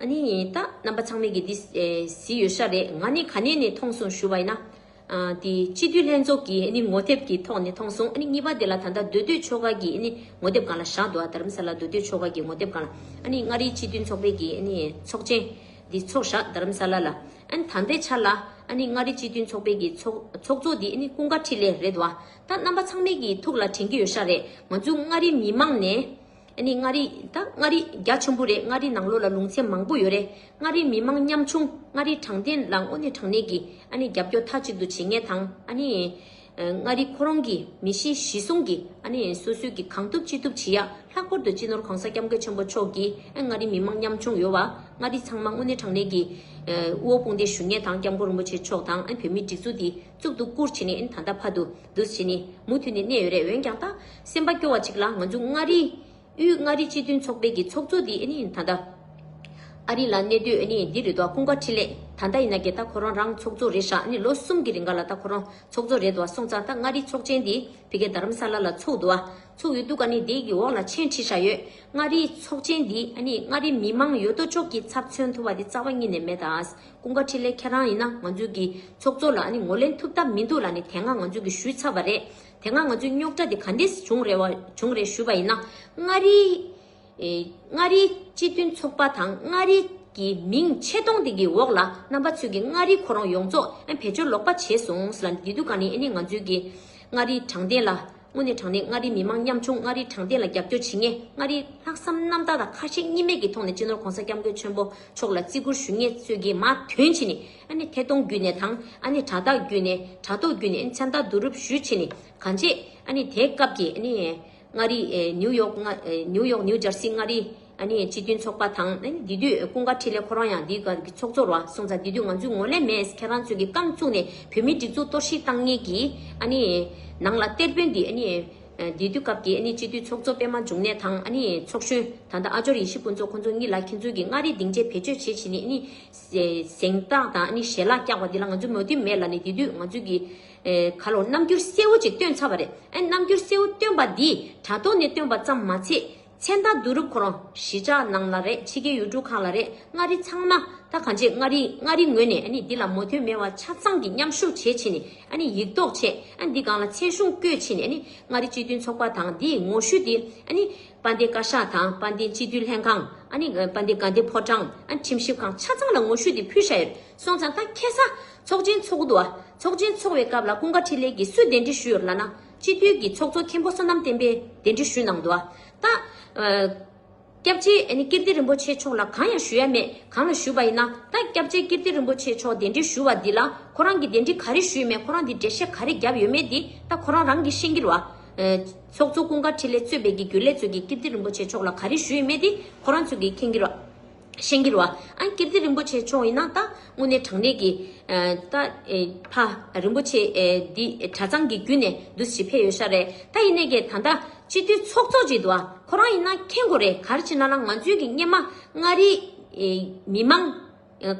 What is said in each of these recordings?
ཨ་ནི་ད་རྣམ་པ་ཚང་མའི་གི་འདི་ཟི་ཡོད་ཤག་རེད་ང་ནི་ག་ནས་ནས་ཐོང་སོང་ཞུ་བ་ཡིན་ན། དེ་སྤྱི་འཐུས་ལྷན་ཚོགས་ཀྱི་ཨ་ནི་ངོ་དེབ་ཀྱི་ཐོག་ནས་ཐོང་སོང་ཨ་ནི་གཉིས་པ་དེ་ལ་ད་ལྟ་སྡོད་སྡོད་ཆོ་ག་གི་ཨ་ནི་ངོ་དེབ་གང་ལ་བཞག་འདུག་ཨ་དར་རམ་ས་ལ་སྡོད་སྡོད་ཆོ་ག་གི་ངོ་དེབ་གང་ལ་ཨ་ནི་མངའ་རིས་སྤྱི་འཐུས་ཚོགས་པའི་གི་ཨ་ནི་ཚོགས་ཆེན་འདི་ཚོགས་བཞག་དར་རམ་ས་ལ་ལ་ཨ་ནི་ད་ལྟའི་ཆར་ལ་ཨ་ནི་མངའ་རིས་སྤྱི་འཐུས་ཚོགས་པའི་གི་ཚོགས་ཚོགས་གཙོ་འདི་ཨ་ནི་ཀུན་དགའ་ཁྲི་ལས་རེད་འདུག་ཨ་ད་རྣམ་པ་ཚང་མའི་གི་ཐུགས་ལ་དྲན་གི་ཡོད་ཤག་རེད་ང་ཚོའི་མངའ་རིས་མི་མང་ནས་འདི་ནི་མངའ་རིས་དང་མངའ་རིས་རྒྱ་ཆེན་པོ་རེད་མངའ་རིས་ནང་ལོགས་ལ་ལུང་ཚན་མང་པོ་ཡོད་རེད་མངའ་རིས་མི་མང་ཉམ་ཆུང་མངའ་རིས་དྲང་བདེན་ལ་དངོས་གནས་དྲང་གནས་ཀྱི་ཨ་ནི་རྒྱབ་སྐྱོར་མཐའ་གཅིག་ཏུ་བྱེད་ངེས་དང་ཨ་ནི། མངའ་རིས་ཁོ་རང་གི་མི་གཤིས་གཞི་བཟུང་གི་ཨ་ནི་སོ་སོས་ཀྱི་གང་ཐུབ་ཅི་ཐུབ་བྱེད་ཡ་ལྷག་པར་དུ་སྤྱི་ནོར་གོང་ས་སྐྱབས་མགོན་ཆེན་པོ་མཆོག་གིས་མངའ་རིས་མི་མང་ཉམ་ཆུང་ཡོད་བ་མངའ་རིས་ཚང་མ་དངོས་གནས་དྲང་གནས་ཀྱི་དབུ་བ་དཔུང་སྡེ་ཞུ་ངེས་དང་སྐྱབས་མགོན་རིན་པོ་ཆེ་མཆོག་དང་ཨ་ནི་བོད་མིའི་སྒྲིག་འཛུགས་འདི། གཙུག་ཏུ་བཀུར་བྱས་ནས་ད་ལྟ་ཕ་དུ་དུས་བྱས་ནས་མུ་མཐུད་ནས་གནས་ཡོད་རེད་འོན་ཀྱང་ད་སེམས་པ་སྐྱོ་བ་གཅིག་ལ་ང་ཚོ་མངའ་རིས་དབུས་མངའ་རིས་སྤྱི་མཐུན་ཚོགས་པའི་གི་ཚོགས་གཙོ་འདི་ད་ལྟ་ཨ་རི་ལ་གནས་སྡོད་འདི་རེད་དོ་ཀུན་དགའ་འཕྲིན་ལས་ད་ལྟ་ཡིན་ན་གི་ད་ཁོ་རང་རང་ཚོགས་གཙོ་རེད་ཤག་ལོ་གསུམ་གི་རིང་ག་ལ་ད་ཁོ་རང་ཚོགས་གཙོ་རེད་དོ་སོང་ཙང་ད་མངའ་རིས་ཚོགས་ཆེན་འདི་ཕི་གེ་རྡ་རམ་ས་ལ་ལ་ཚོགས་འདུག་ཨ་ཚོགས་ཡོད་འདུག་ག་ནི་དེ་གི་འོག་ལ་ཆེན་ཁྲི་ཤག་ཡོད་མངའ་རིས་ཚོགས་ཆེན་འདི་མངའ་རིས་མི་མང་ཡོད་དོ་ཅོག་གི་ཚབ་མཚོན་ཐུབ་པ་དེ་རྩ་བ་གཉིས་ནས་མེད་ད། ཀུན་དགའ་འཕྲིན་ལས་ཁྱེད་རང་ཡིན་ན་ང་ཚོའི་གི་ཚོགས་གཙོ་ལ་ནི་ངོ་ལེན་ཐུབ་ཐབས་མི་འདུག་ལ་ནི་དེ་སྔ་ང་ཚོའི་གི་ཞུས་ཚར་བ་རེད་དེ་སྔ་ང་ཚོའི་རྙོག་དྲ་དེ་ག་འདིས་བྱུང་རེད་བྱུང་རེད་ཞུས་པ་ཡིན་ན་མངའ་རིའི་མངའ་རིའི་སྤྱི་མཐུན་ཚོགས་པ་དང་མངའ་རིའི་གི་མིང་ཆེ་མཐོང་དེ་གི་འོག་ལ་རྣམ་པ་ཚོས་གི་མངའ་རིའི་ཁོ་རང་ཡོངས་རྫོགས་བེད་སྤྱོད་ལོག་པ་བྱས་སོང་ལ་འདི་དུས་ག་ནི་ཨེ་ནི་ང་ཚོའི་གི་མངའ་རིའི་དྲང་བདེན་ལ། དངོས་གནས་དྲང་གནས་མངའ་རིས་མི་དམངས་ཉམ་ཆུང་མངའ་རིས་དྲང་བདེན་ལ་རྒྱབ་སྐྱོར་བྱེད་ངེས་མངའ་རིས་ལྷག་བསམ་རྣམ་དག་དང་ཁ་ཞེ་གཉིས་མེད་ཀྱི་ཐོག་ནས་སྤྱི་ནོར་གོང་ས་སྐྱབས་མགོན་ཆེན་པོ་མཆོག་ལ་བརྩི་བཀུར་ཞུ་ངེས་ཚོད་ཀྱིས་མ་དོན་ཕྱིན་ནས་ཨ་ཐེ་གཏོང་བརྒྱུད་ནས་དང་ཨ་ནེ་དྲ་བདག་བརྒྱུད་ནས་དྲ་ཐོག་བརྒྱུད་ནས་མཚན་རྟགས་བསྡུ་རུབ་ཞུས་ཕྱིན་ནས་གང་བྱེད་དེའི་སྐབས་ཀྱི་མངའ་རིས་ནིའུ་ཡོག་ནིའུ་ཡོག་ནིའུ་ཇར་སི་མངའ་རིས། སྤྱི་མཐུན་ཚོགས་པ་དང། དེ་དུས་ཀུན་དགའ་འཕྲིན་ལས་ཁོ་རང་ཡང་འདིའི་སྒར་གྱི་ཚོགས་གཙོར་བ་གསུངས་ཙང་དེ་དུས་ང་ཚོའི་ངོ་ལས་མེད་ཁྱེད་རང་ཚོས་ཀྱིས་རྐང་བཙུགས་ནས་བོད་མིའི་སྒྲིག་འཛུགས་གཏོར་བཤིག་བཏང་ཉེས་ཀྱིས། ནང་ལ་གཏེར་དཔོན་འདི། དེ་དུས་སྐབས་དེའི་སྤྱི་མཐུན་ཚོགས་གཙོ་པད་མ་འབྱུང་གནས་དང། ཚོགས་གཞོན་ད་ལྟ་ཨ་ཅོར་ཡེ་ཤེས་ཕུན་ཚོགས་ཁོ་ཚོ་གཉིས་ལ་ཁྱེད་ཚོ་གིས་མངའ་རིས་སྡིངས་ཆའི་བེད་སྤྱོད་བྱེད་བྱེད་ནས་གཟེངས་རྟགས་དང་ཞལ་ལག་བཀྱགས་པ་འདི་ལ་ང་ཚོས་མོས་མཐུན་མེད་ལ་ནི་དེ་དུས་ང་ཚོས་ཀྱིས། ག་ལོར་རྣམ་འགྱུར་གསལ་བོ་ཅིག་བཏོན་ཚར་བ་རེད། རྣམ་འགྱུར་གསལ་བོ་བཏོན་པ་འདིས་དྲ་ཐོག་ནས་བཏོན་པ་ཙམ་མ་ཚད། མཚན་རྟགས་བསྡུ་རུབ་ཁོ་རང་གཞིས་ཆགས་ནང་ལ་རེད་ཕྱི་རྒྱལ་ཡུལ་གྲུ་གང་ལ་རེད་མངའ་རིས་ཚང་མ་ད་གང་བྱེད་མངའ་རིས་མངའ་རིས་ངོས་ནས་འདི་ལ་མོ་དོན་མེད་བ་ཆ་ཚང་གི་མཉམ་ཞུགས་བྱེད་ཕྱིན་ནས་ཡིག་རྡོག་ཆད་འདི་གང་ལ་ཚད་གཞུང་བཀོད་ཕྱིན་ནས་མངའ་རིས་སྤྱི་མཐུན་ཚོགས་པ་དང་འདི་ངོ་བཤུས་འདི་དཔལ་ལྡན་བཀའ་ཤག་དང་དཔལ་ལྡན་སྤྱི་འཐུས་ལྷན་ཁང་དཔལ་ལྡན་དགའ་ལྡན་ཕོ་བྲང་ཁྲིམས་ཞིབ་ཁང་ཆ་ཚང་ལ་ངོ་བཤུས་འདི་ཕུལ་བཞག་ཡོད་སོང་ཙང་ད་ཁྱེད་ཚ་ཚོགས་ཆེན་ཚོགས་འདུག་ཚོགས་ཆེན་ཚོགས་བའི་སྐབས་ལ་ཀུན་དགའ་འཕྲིན་ལས་ཀྱིས་སུས་གདན་འདྲེན་ཞུས་ཡོད་ལ་ན། སྤྱི་འཐུས་ཀྱི་ཚོགས་གཙོ་མཁན་པོ་བསོད་ནམས་བསྟན་པས་གདན་འདྲི་ཞུས་གནང་འདུག་ཨ་སྟག། སྐྱབས་རྗེ་ཀིརྟི་རིན་པོ་ཆེ་མཆོག་ལ་གང་ཡང་ཞུ་ཡ་མེད་གང་ལ་ཞུས་པ་ཡིན་ན་ད་སྐྱབས་རྗེ་ཀིརྟི་རིན་པོ་ཆེ་མཆོག་གདན་འདྲི་ཞུ་བ་འདི་ལ་ཁོ་རང་གི་གདན་འདྲི་ག་རེ་ཞུས་མེད་ཁོ་རང་འདི་འགྲེལ་བཤད་ག་རེ་རྒྱབ་ཡོད་མེད་འདི་ད་ཁོ་རང་རང་གིས་ཤེས་ཀྱི་རོ། ཚོགས་གཙོ་ཀུན་དགའ་ཁྲི་ལས་གཙོས་པའི་གི་གུ་ལས་གཙོས་ཀི་ཀིརྟི་རིན་པོ་ཆེ་མཆོག་ལ་ག་རེ་ཞུ་ཡི་མེད་འདི་ཁོ་རང་ཚོས་གིས་མཁྱེན་གྱི་རོ། ཤན་གྱི་རོ། ཨཱ་ཀིརྟི་རིན་པོ་ཆེ་མཆོག་ཡིན་ན་ད། དངོས་གནས་དྲང་གནས་ཀྱི། ད། ཕ། རིན་པོ་ཆེ། འདི། གྲྭ་ཚང་གི་བརྒྱུད་ནས་བསྡུ་ཞིག་ཕེབས་ཡོད་ཤག་རེད་ད་ཡིན་ནའི་གེ་ད་ད། སྤྱི་འཐུས་ཚོགས་གཙོ་གཅིག་འདུག་ཨ། ཁོ་རང་ཡིན་ན་མཁྱེན་དགོས་རེད་གར་ཕྱིན་ན་ལ་ང་ཚོའི་གི་སྙེ་མ། མངའ་རིས། མི་མང།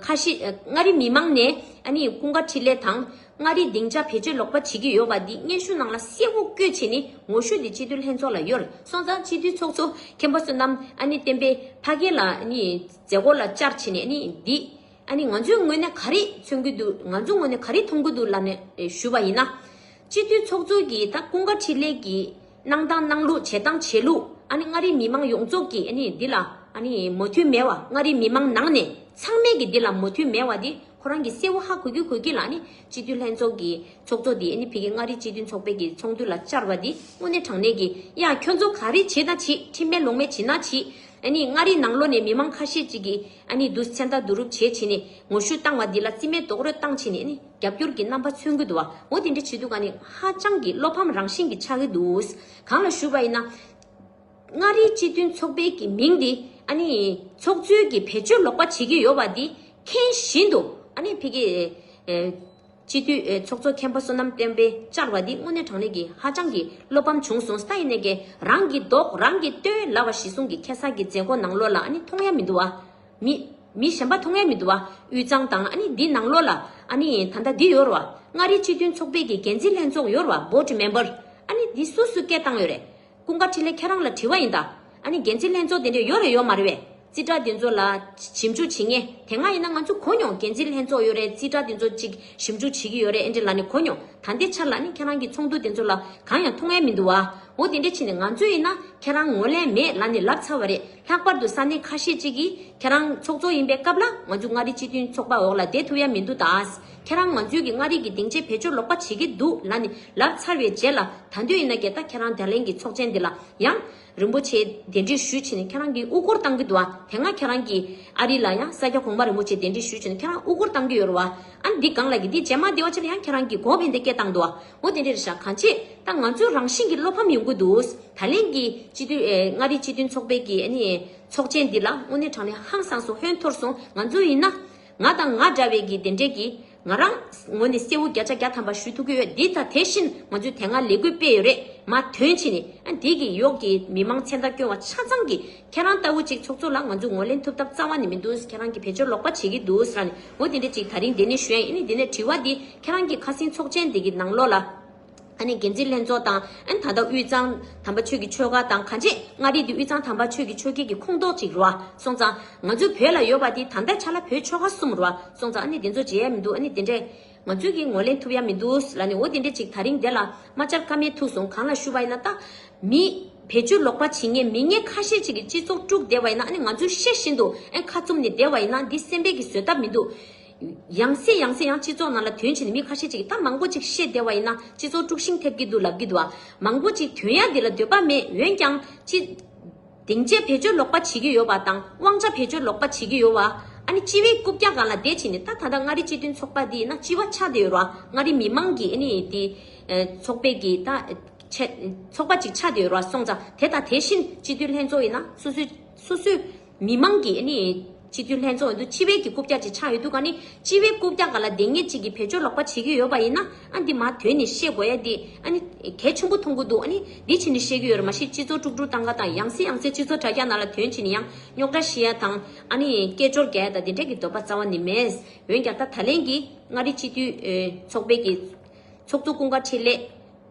ཁ་ཤི། མངའ་རིས་མི་མང་ནས། ཨ་ནི་ཀུན་དགའ་འཕྲིན་ལས་དང། མངའ་རིས་སྡིངས་ཆ་བེད་སྤྱོད་ལོག་པ་བྱེད་ཀྱི་ཡོད་པ་འདི་སྙན་ཞུ་ནང་ལ་གསལ་བོ་བཀོད་ཆེད་ནས་ངོ་ཤུགས་དེ་སྤྱི་འཐུས་ལྷན་ཚོགས་ལ་གཡོལ་སོང་ཙང་སྤྱི་འཐུས་ཚོགས་གཙོ་མཁན་པོ་བསོད་ནམས་བསྟན་པས་ཕ་སྐད་ལ་མཛད་སྒོ་ལ་བཅར་ཆེད་ནས་འདི་ང་ཚོས་དངོས་ནས་ག་རེ་མཚོན་གྱི་འདུག་ང་ཚོ་དངོས་ནས་ག་རེ་མཐོང་གི་འདུག་ལབ་ནས་ཞུས་པ་ཡིན་ན། སྤྱི་འཐུས་ཚོགས་གཙོ་གིས་ད་ཀུན་དགའ་འཕྲིན་ལས་ཀྱིས་གནང་སྟངས་གནང་ལུགས་བྱེད་སྟངས་བྱེད་ལུགས་ཨ་ནི་མངའ་རིས་མི་མང་ཡོངས་རྫོགས་ཀྱིས་ཨ་ནི་འདི་ལ་ཨ་ནི་མོ་མཐུན་མེད་བ་མངའ་རིས་མི་མང་ནང་ནས་ཚང་མས་ཀྱི་འདི་ལ་མོ་མཐུན་མེད་བ་འདི་ཁོ་རང་གི་གསལ་བོ་ཧ་གོ་གི་གོ་གི་ལ་ཨ་ནི་སྤྱི་འཐུས་ལྷན་ཚོགས་ཀྱི་ཚོགས་གཙོ་འདི་ཨ་ནི་ཕི་གི་མངའ་རིས་སྤྱི་འཐུས་ཚོགས་པའི་ཀྱི་ཚོགས་འདུ་ལ་བཅར་བ་འདི་དངོས་གནས་དྲང་གནས་ཀྱི་ཡ་ཁྱོད་ཚོ་ག་རེ་བྱེད་ད་བྱེད་ཁྲིམས་མེད་ལོང་མེད་བྱེད་ན་བྱེད་ཨ་ནི་མངའ་རིས་ནང་ལོ་ནས་མི་མང་ཁ་ཤས་ཅིག་གིས། ཨ་ནི་བདུད་ཚན་དག་བསྡུ་རུབ་བྱེད་བྱེད་ནས་ངོ་བཤུས་བཏང་བ་འདི་ལ་རྩིས་མེད་རྡོག་རོལ་བཏང་བྱས་ནས་ཨ་ནི་རྒྱབ་སྐྱོར་གྱི་རྣམ་པ་མཚོན་གྱི་འདུག་བ་འོ་དེ་འདྲ་བྱེད་དུས་ཀ་ནི་ཧ་ཅང་གི་བློ་ཕམ་རང་བཞིན་གྱི་ཆགས་ཀྱི་འདུག་གང་ལ་ཞུ་བ་ཡིན་ན། མངའ་རིས་སྤྱི་མཐུན་ཚོགས་པའི་གྱི་མིང་འདི་ཨ་ནི་ཚོགས་གཙོའི་གྱི་བེད་སྤྱོད་ལོག་པ་བྱེད་ཀྱི་ཡོད་བ་འདི་མཁྱེན་བཞིན་དུ་ཨ་ནི་ཕི་གེ། སྤྱི་འཐུས་འོས་ཚོགས་གཙོ་མཁན་པོ་བསོད་ནམས་བསྟན་པས་བཅར་བ་འདི་དངོས་གནས་དྲང་གནས་ཀྱི་ཧ་ཅང་གི་བློ་ཕམ་བྱུང་སོང་ས་ཡི་ནས་ཀྱི་རང་གི་མདོག་རང་གིས་སྟོན་ལ་བ་གཞི་སྲུང་གི་ཁེ་བཟང་གི་མཛད་སྒོ་ནང་ལོ་ལ་ཨ་ནི་མཐོང་ཡ་མི་འདུག་བ། མི། མི་གཞན་པ་མཐོང་ཡ་མི་འདུག་བ་དབུས་གཙང་དང་ཨ་ནི་འདི་ནང་ལོ་ལ་ཨ་ནི་ད་ལྟ་འདི་ཡོར་བ་མངའ་རིས་སྤྱི་མཐུན་ཚོགས་པའི་གི་འགན་འཛིན་ལྷན་ཚོགས་ཡོར་བ Board Member ཨ་ནི་འདི་སུ་སུ་སྐད་བཏང་ཡོད་རེད། ཀུན་དགའ་འཕྲིན་ལས་ཁྱེད་རང་ལ་དྲི་བ་ཡིན་ད། ཨ་ནི་འགན་འཛིན་ལྷན་ཚོགས་དེ་འདྲས་ཡོད་རེད་ཡོད་མ་རེད་བས། རྩིས་ཁྲ་དེ་ཚོ་ལ། ཞིབ་འཇུག་བྱེད་ངེས། དེ་སྔ་ཡིན་ན་ང་ཚོས་གོ་མྱོང་འགན་འཛིན་ལྷན་ཚོགས་ཡོད་རེད་རྩིས་ཁྲ་དེ་ཚོ་ཅིག་ཞིབ་འཇུག་བྱེད་ཀྱི་ཡོད་རེད་ཨེ་འདྲས་ལ་ནི་གོ་མྱོང། ད་འདི་ཆར་ལ་ནི་ཁྱེད་རང་གི་ཚོགས་འདུ་དེ་ཚོ་ལ་གང་ཡང་མཐོང་ཡ་མི་འདུག་བ། འོ་དེ་འདྲས་ཕྱིན་ནས་ང་ཚོས་ཡིན་ན་ཁྱེད་རང་ངོ་ལེན་མེད་ལ་ནི་ལབ་ཚར་བ་རེད་ལྷག་པར་དུ་ས་གནས་ཁ་ཤས་ཅིག་གིས་ཁྱེད་རང་ཚོགས་གཙོ་ཡིན་པའི་སྐབས་ལ་ང་ཚོས་མངའ་རིས་སྤྱི་མཐུན་ཚོགས་པ་འོག་ལ་བསྡད་ཐུབ་ཡ་མི་འདུག་ད། ཁྱེད་རང་ང་ཚོའི་གི་མངའ་རིས་ཀྱི་སྡིངས་ཆའི་བེད་སྤྱོད་ལོག་པ་བྱེད་ཀྱི་འདུག་ལ་ནི་ལབ་ཚར་བའི་རྗེས་ལ་ད་འདོད་ཡིན་ན་གད་ད་ཁྱེད་རང་དད་ལན་གྱི་ཚོགས་ཆེན་འདི་ལ་ཡང། རིན་པོ་ཆེའི་དེ་འདྲི་ཞུས་བྱེད་ནི་ཁྱེད་རང་གི་དབུ་སྐོར་བཏང་གི་འདུག་ཨ་དེ་སྔ་ཁྱེད་རང་གི་ཨ་རི་ལ་ཡང་ས་སྐྱ་གོང་མ་རིན་པོ་ཆེའི་དེ་འདྲི་ཞུས་བྱེད་ནི་ཁྱེད་རང་དབུ་སྐོར་བཏང་གི་ཡོད་རུ་བ་ཨ་འདི་སྒང་ལ་གི་འདི་རྗེས་མ་འདི་བ་ཆེ་ལ་ཡང་ཁྱེད་རང་གི་གོ་བེད་འདི་སྐད་བཏང་འདུག་ཨོ་དེ་འདྲེར་ཤག་གང་བྱེད་ད་ང་ཚོའི་རང་བཞིན་གྱི་བློ་ཕམ་ཡོང་གི་འདུག་ད་ལན་གྱི་སྤྱི་འཐུས་མངའ་རིས་སྤྱི་མཐུན་ཚོགས་པའི་གི་ཨ་ནི་ཚོགས་ཆེན་འདི་ལ་དངོས་གནས་དྲང་ནས་ཧང་སངས་སོང་ཧོན་འཐོར་སོང་ང་ཚོ་ཡིན་ན། ང་དང་ང་འདྲ་བའི་གི་དེ་འདྲས་ཀྱིས། ང་རང། ངོ་ནས་གསལ་བོ་བརྒྱ་ཆ་བརྒྱ་ཐམ་པ་ཞུ་ཐུབ་ཀྱི་ཡོད་འདི་ད་དེ་བཞིན་ང་ཚོས་དེ་སྔ་ལས་འགུལ་སྤེལ་ཡོད་རེད་མ་དོན་ཕྱིས་ནི་ཨ་འདི་གི་གཡོག་གི་མི་མང་ཚེ་མདའ་སྐྱོན་བ་ཆ་ཚང་གི་ཁྱེད་རང་ལྟ་བུ་ཅིག་ཚོགས་གཙོ་ལ་ང་ཚོས་ངོ་ལེན་ཐུབ་ཐབས་རྩ་བ་ནི་མི་འདུག་ཁྱེད་རང་གི་བེད་སྤྱོར་ལོག་པ་བྱེད་ཀྱི་འདུག་རང་ནི་ངོ་དེ་འདྲས་ཅིག་ད་རིང་དེ་ནི་ཞོན་ཨེ་ནི་དེ་ནས་དྲི་བ་འདི་ཁྱེད་རང་གི་ཁ་སིང་ཚོགས་ཆེན་འདི་གི་ནང་ལོགས་ལ། འགན་འཛིན་ལྷན་ཚོགས་དང། ད་ལྟ་དབུས་གཙང་དམ་པ་ཆོས་ཀྱི་ཆོལ་ཁ་དང་གངས་ཅན་མངའ་རིས་འདི་དབུས་གཙང་དམ་པ་ཆོས་ཀྱི་ཆོལ་ཁའི་གི་ཁོངས་གཏོགས་ཅིག་རོ། སོང་ཙང། ང་ཚོའི་བོད་ལ་ཡོད་པ་དེ་ད་ལྟ་ཆ་ལ་བོད་ཆོལ་ཁ་གསུམ་རོ། སོང་ཙང་ཨ་ནི་དེ་ཚོ་བརྗེད་ཡ་མི་འདུག་ཨ་ནི་དེ་འདྲས། ང་ཚོས་གིས་ངོ་ལེན་ཐུབ་ཡ་མི་འདུག་ལ་ནི་འོ་དེ་འདྲས་ཅིག་ད་རིང་དེ་ལ་མ་བཅར་ཀ་མེད་ཐུག་སོང་གང་ལ་ཞུ་བ་ཡིན་ན་ད། མི། བེད་སྤྱོད་ལོག་པ་བྱེད་ངེས་མི་ངན་ཁ་ཤས་ཅིག་གི་སྤྱི་ཚོགས་དཀྲུགས་བསྡད་པ་ཡིན་ན་ཨ་ནི་ང་ཚོས་ཤེས་བཞིན་དུ་ཨེ་ཁ་བཙུམ་ནས་བསྡད་བ་ཡིན་ན་འདི་སེམས་པས་གིས་བཟོད་ཐབས་མི་འདུག། ཡང་སྲིད་ཡང་སྲིད་ཡང་སྤྱི་ཚོགས་ནང་ལ་དོན་ཆེ་ནི་མི་ཁ་ཤས་ཅིག་གིས་ད་མང་པོ་ཅིག་བཤད་བདེ་བ་ཡིན་ན་སྤྱི་ཚོགས་དཀྲུགས་ཤིང་ཐེབས་ཀྱི་འདུག་ལབ་ཀྱི་འདུག་ཨ། མང་པོ་ཅིག་དོན་ཡག་འདི་ལ་འདོད་པ་མེད་འོན་ཀྱང་སྤྱི། སྡིངས་ཆའི་བེད་སྤྱོད་ལོག་པ་བྱེད་ཀྱི་ཡོད་པ་དང་དབང་ཆ་བེད་སྤྱོད་ལོག་པ་བྱེད་ཀྱི་ཡོད་བ། ཨ་ནི་སྤྱི་བའི་རྐུབ་བཀྱག་གང་ལ་བསྡད་ཕྱིན་ནི་ད་ད་ལྟ་མངའ་རིས་སྤྱི་མཐུན་ཚོགས་པ་འདི་ན་སྤྱི་བ་ཆགས་བསྡད་ཡོད་ར་མངའ་རིས་མི་དམངས་ཀྱི་ཨ་ནི་དེ། ཚོགས་པའི་གི་ད། ཚོགས་པ་ཅིག་ཆགས་བསྡད་ཡོད་ར་སོང་ཙང་དེ་དང་དེ་བཞིན་སྤྱི་འཐུས་ལྷན་ཚོགས་ཡིན་ན་སོ་སོའི། མི་དམངས་ཀྱི་སྤྱི་འཐུས་ལྷན་ཚོགས་འདུ་སྤྱི་བེད་ཀྱི་རྐུབ་བཀྱག་ཅིག་ཆགས་ཡོད་འདུག་ག་ནི་སྤྱི་བེད་རྐུབ་བཀྱག་ག་ལ་འདེད་ངེས་ཅིག་གི་བེད་སྤྱོད་ལོག་པ་བྱེད་ཀྱི་ཡོད་པ་ཡིན་ན་འདི་མ་དོན་ནི་ཤེས་དགོས་ཡ་འདི་གལ་ཆེན་པོ་མཐོང་གི་འདུག་འདི་ཕྱིན་ནི་ཤེས་ཀྱི་ཡོད་རེད་མ་གཞི་སྤྱི་ཚོགས་དཀྲུག་དཀྲུག་སྟངས་ཀ་དང་ཡང་སེ་ཡང་སེ་སྤྱི་ཚོགས་དྲ་རྒྱ་ནང་ལ་དོན་ཕྱིན་ནི་ཡང་རྙོག་དྲ་ཤི་ཡ་དང་སྐད་ཅོར་རྒྱ་ཡ་དང་དེ་འདྲ་གི་འདོད་པ་རྩ་བ་ནི་མེད་འོན་ཀྱང་ད་ད་ལན་གྱི་མངའ་རིས་སྤྱི་འཐུས་ཚོགས་པའི་གི་ཚོགས་གཙོ་ཀུན་དགའ་འཕྲིན་ལས།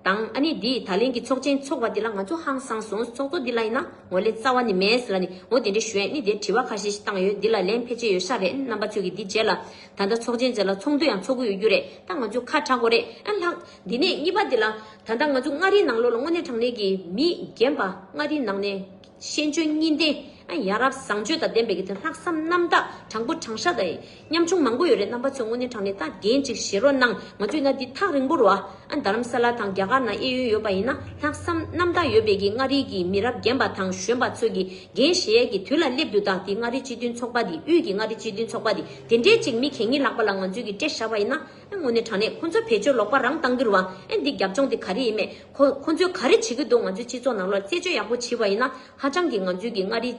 དང་ཨ་ནི་འདིས་ད་ལན་གྱི་ཚོགས་ཆེན་འཚོགས་པ་འདི་ལ་ང་ཚོ་ཧང་སང་སོང་ཚོགས་གཙོ་འདི་ལ་ཡིན་ན་ངོ་ལས་རྩ་བ་ནི་མེད་ལ་ནི་ངོ་དེ་འདྲའི་ཞོན་ནི་དེ་དྲི་བ་ཁ་ཤས་ཤིག་བཏང་ཡོད་འདི་ལ་ལན་ཕལ་ཆེར་ཡོད་ཤག་རེད་རྣམ་པ་ཚོས་གི་འདི་རྗེས་ལ་ད་ལྟ་ཚོགས་ཆེན་རྗེས་ལ་ཚོགས་འདུ་ཡང་འཚོགས་གི་ཡོད་རྒྱུ་རེད་ད་ང་ཚོས་ཁ་གྲག་གོ་རེད་ཨ་ལགས། འདི་ནས་གཉིས་པ་འདི་ལ་ད་ལྟ་ང་ཚོ་མངའ་རིས་ནང་ལོགས་ལ་དངོས་གནས་དྲང་གནས་ཀྱི་མི་རྒན་པ་མངའ་རིས་ནང་ནས། ཤེས་འཇོན་གཉིས་ལྡན། ཡ་རབས་བཟང་སྤྱོད་དང་ལྡན་པའི་དེ་ལྷག་བསམ་རྣམ་དག་དྲང་པོ་དྲང་ཤ་དང། ཉམ་ཆུང་མང་པོ་ཡོད་རེད་རྣམ་པ་ཚོས་དངོས་གནས་དྲང་ནས་ལྟ་རྒན་ཅིག་བྱེད་རོགས་གནང་ང་ཚོས་ན་འདི་ཐག་རིང་པོར་བ། རྡ་རམ་ས་ལ་དང་རྒྱ་གར་ན་གཡས་གཡོན་ཡོད་པ་ཡིན་ན་ལྷག་བསམ་རྣམ་དག་ཡོད་པའི་གི་མངའ་རིས་ཀྱི་མི་རབས་རྒན་པ་དང་གཞོན་པ་ཚོས་གི་རྒན་གཞས་ཡས་ཀྱི་དུས་ལ་སླེབས་འདུག་ད་དེ་མངའ་རིས་སྤྱི་མཐུན་ཚོགས་པ་དེ་དབུས་ཀྱི་མངའ་རིས་སྤྱི་མཐུན་ཚོགས་པ་དེ་དེ་འདྲས་ཅིག་མི་གལ་གཉིས་ལགས་པ་ལ་ང་ཚོས་གི་སྤྲད་ཤ་བ་ཡིན་ན། ཨེ་དངོས་གནས་དྲང་གནས་ཁོང་ཚོའི་བེད་སྤྱོད་ལོག་པ་རང་བཏང་གི་རུ་བ་ཨེ་འདི་རྒྱབ་ལྗོངས་དེ་ག་རེ་ཡིན་མེད་ཁོ་ཁོང་ཚོས་ག་རེ་བྱེད་ཀྱི་འདུག་ང་ཚོའི་སྤྱི་ཚོགས་ནང་ལོར་རྩད་གཅོད་ཡག་པོ་བྱེད་པ་ཡིན་ན་ཧ་ཅང་གི་ང་ཚོའི་གི་མངའ་རིས་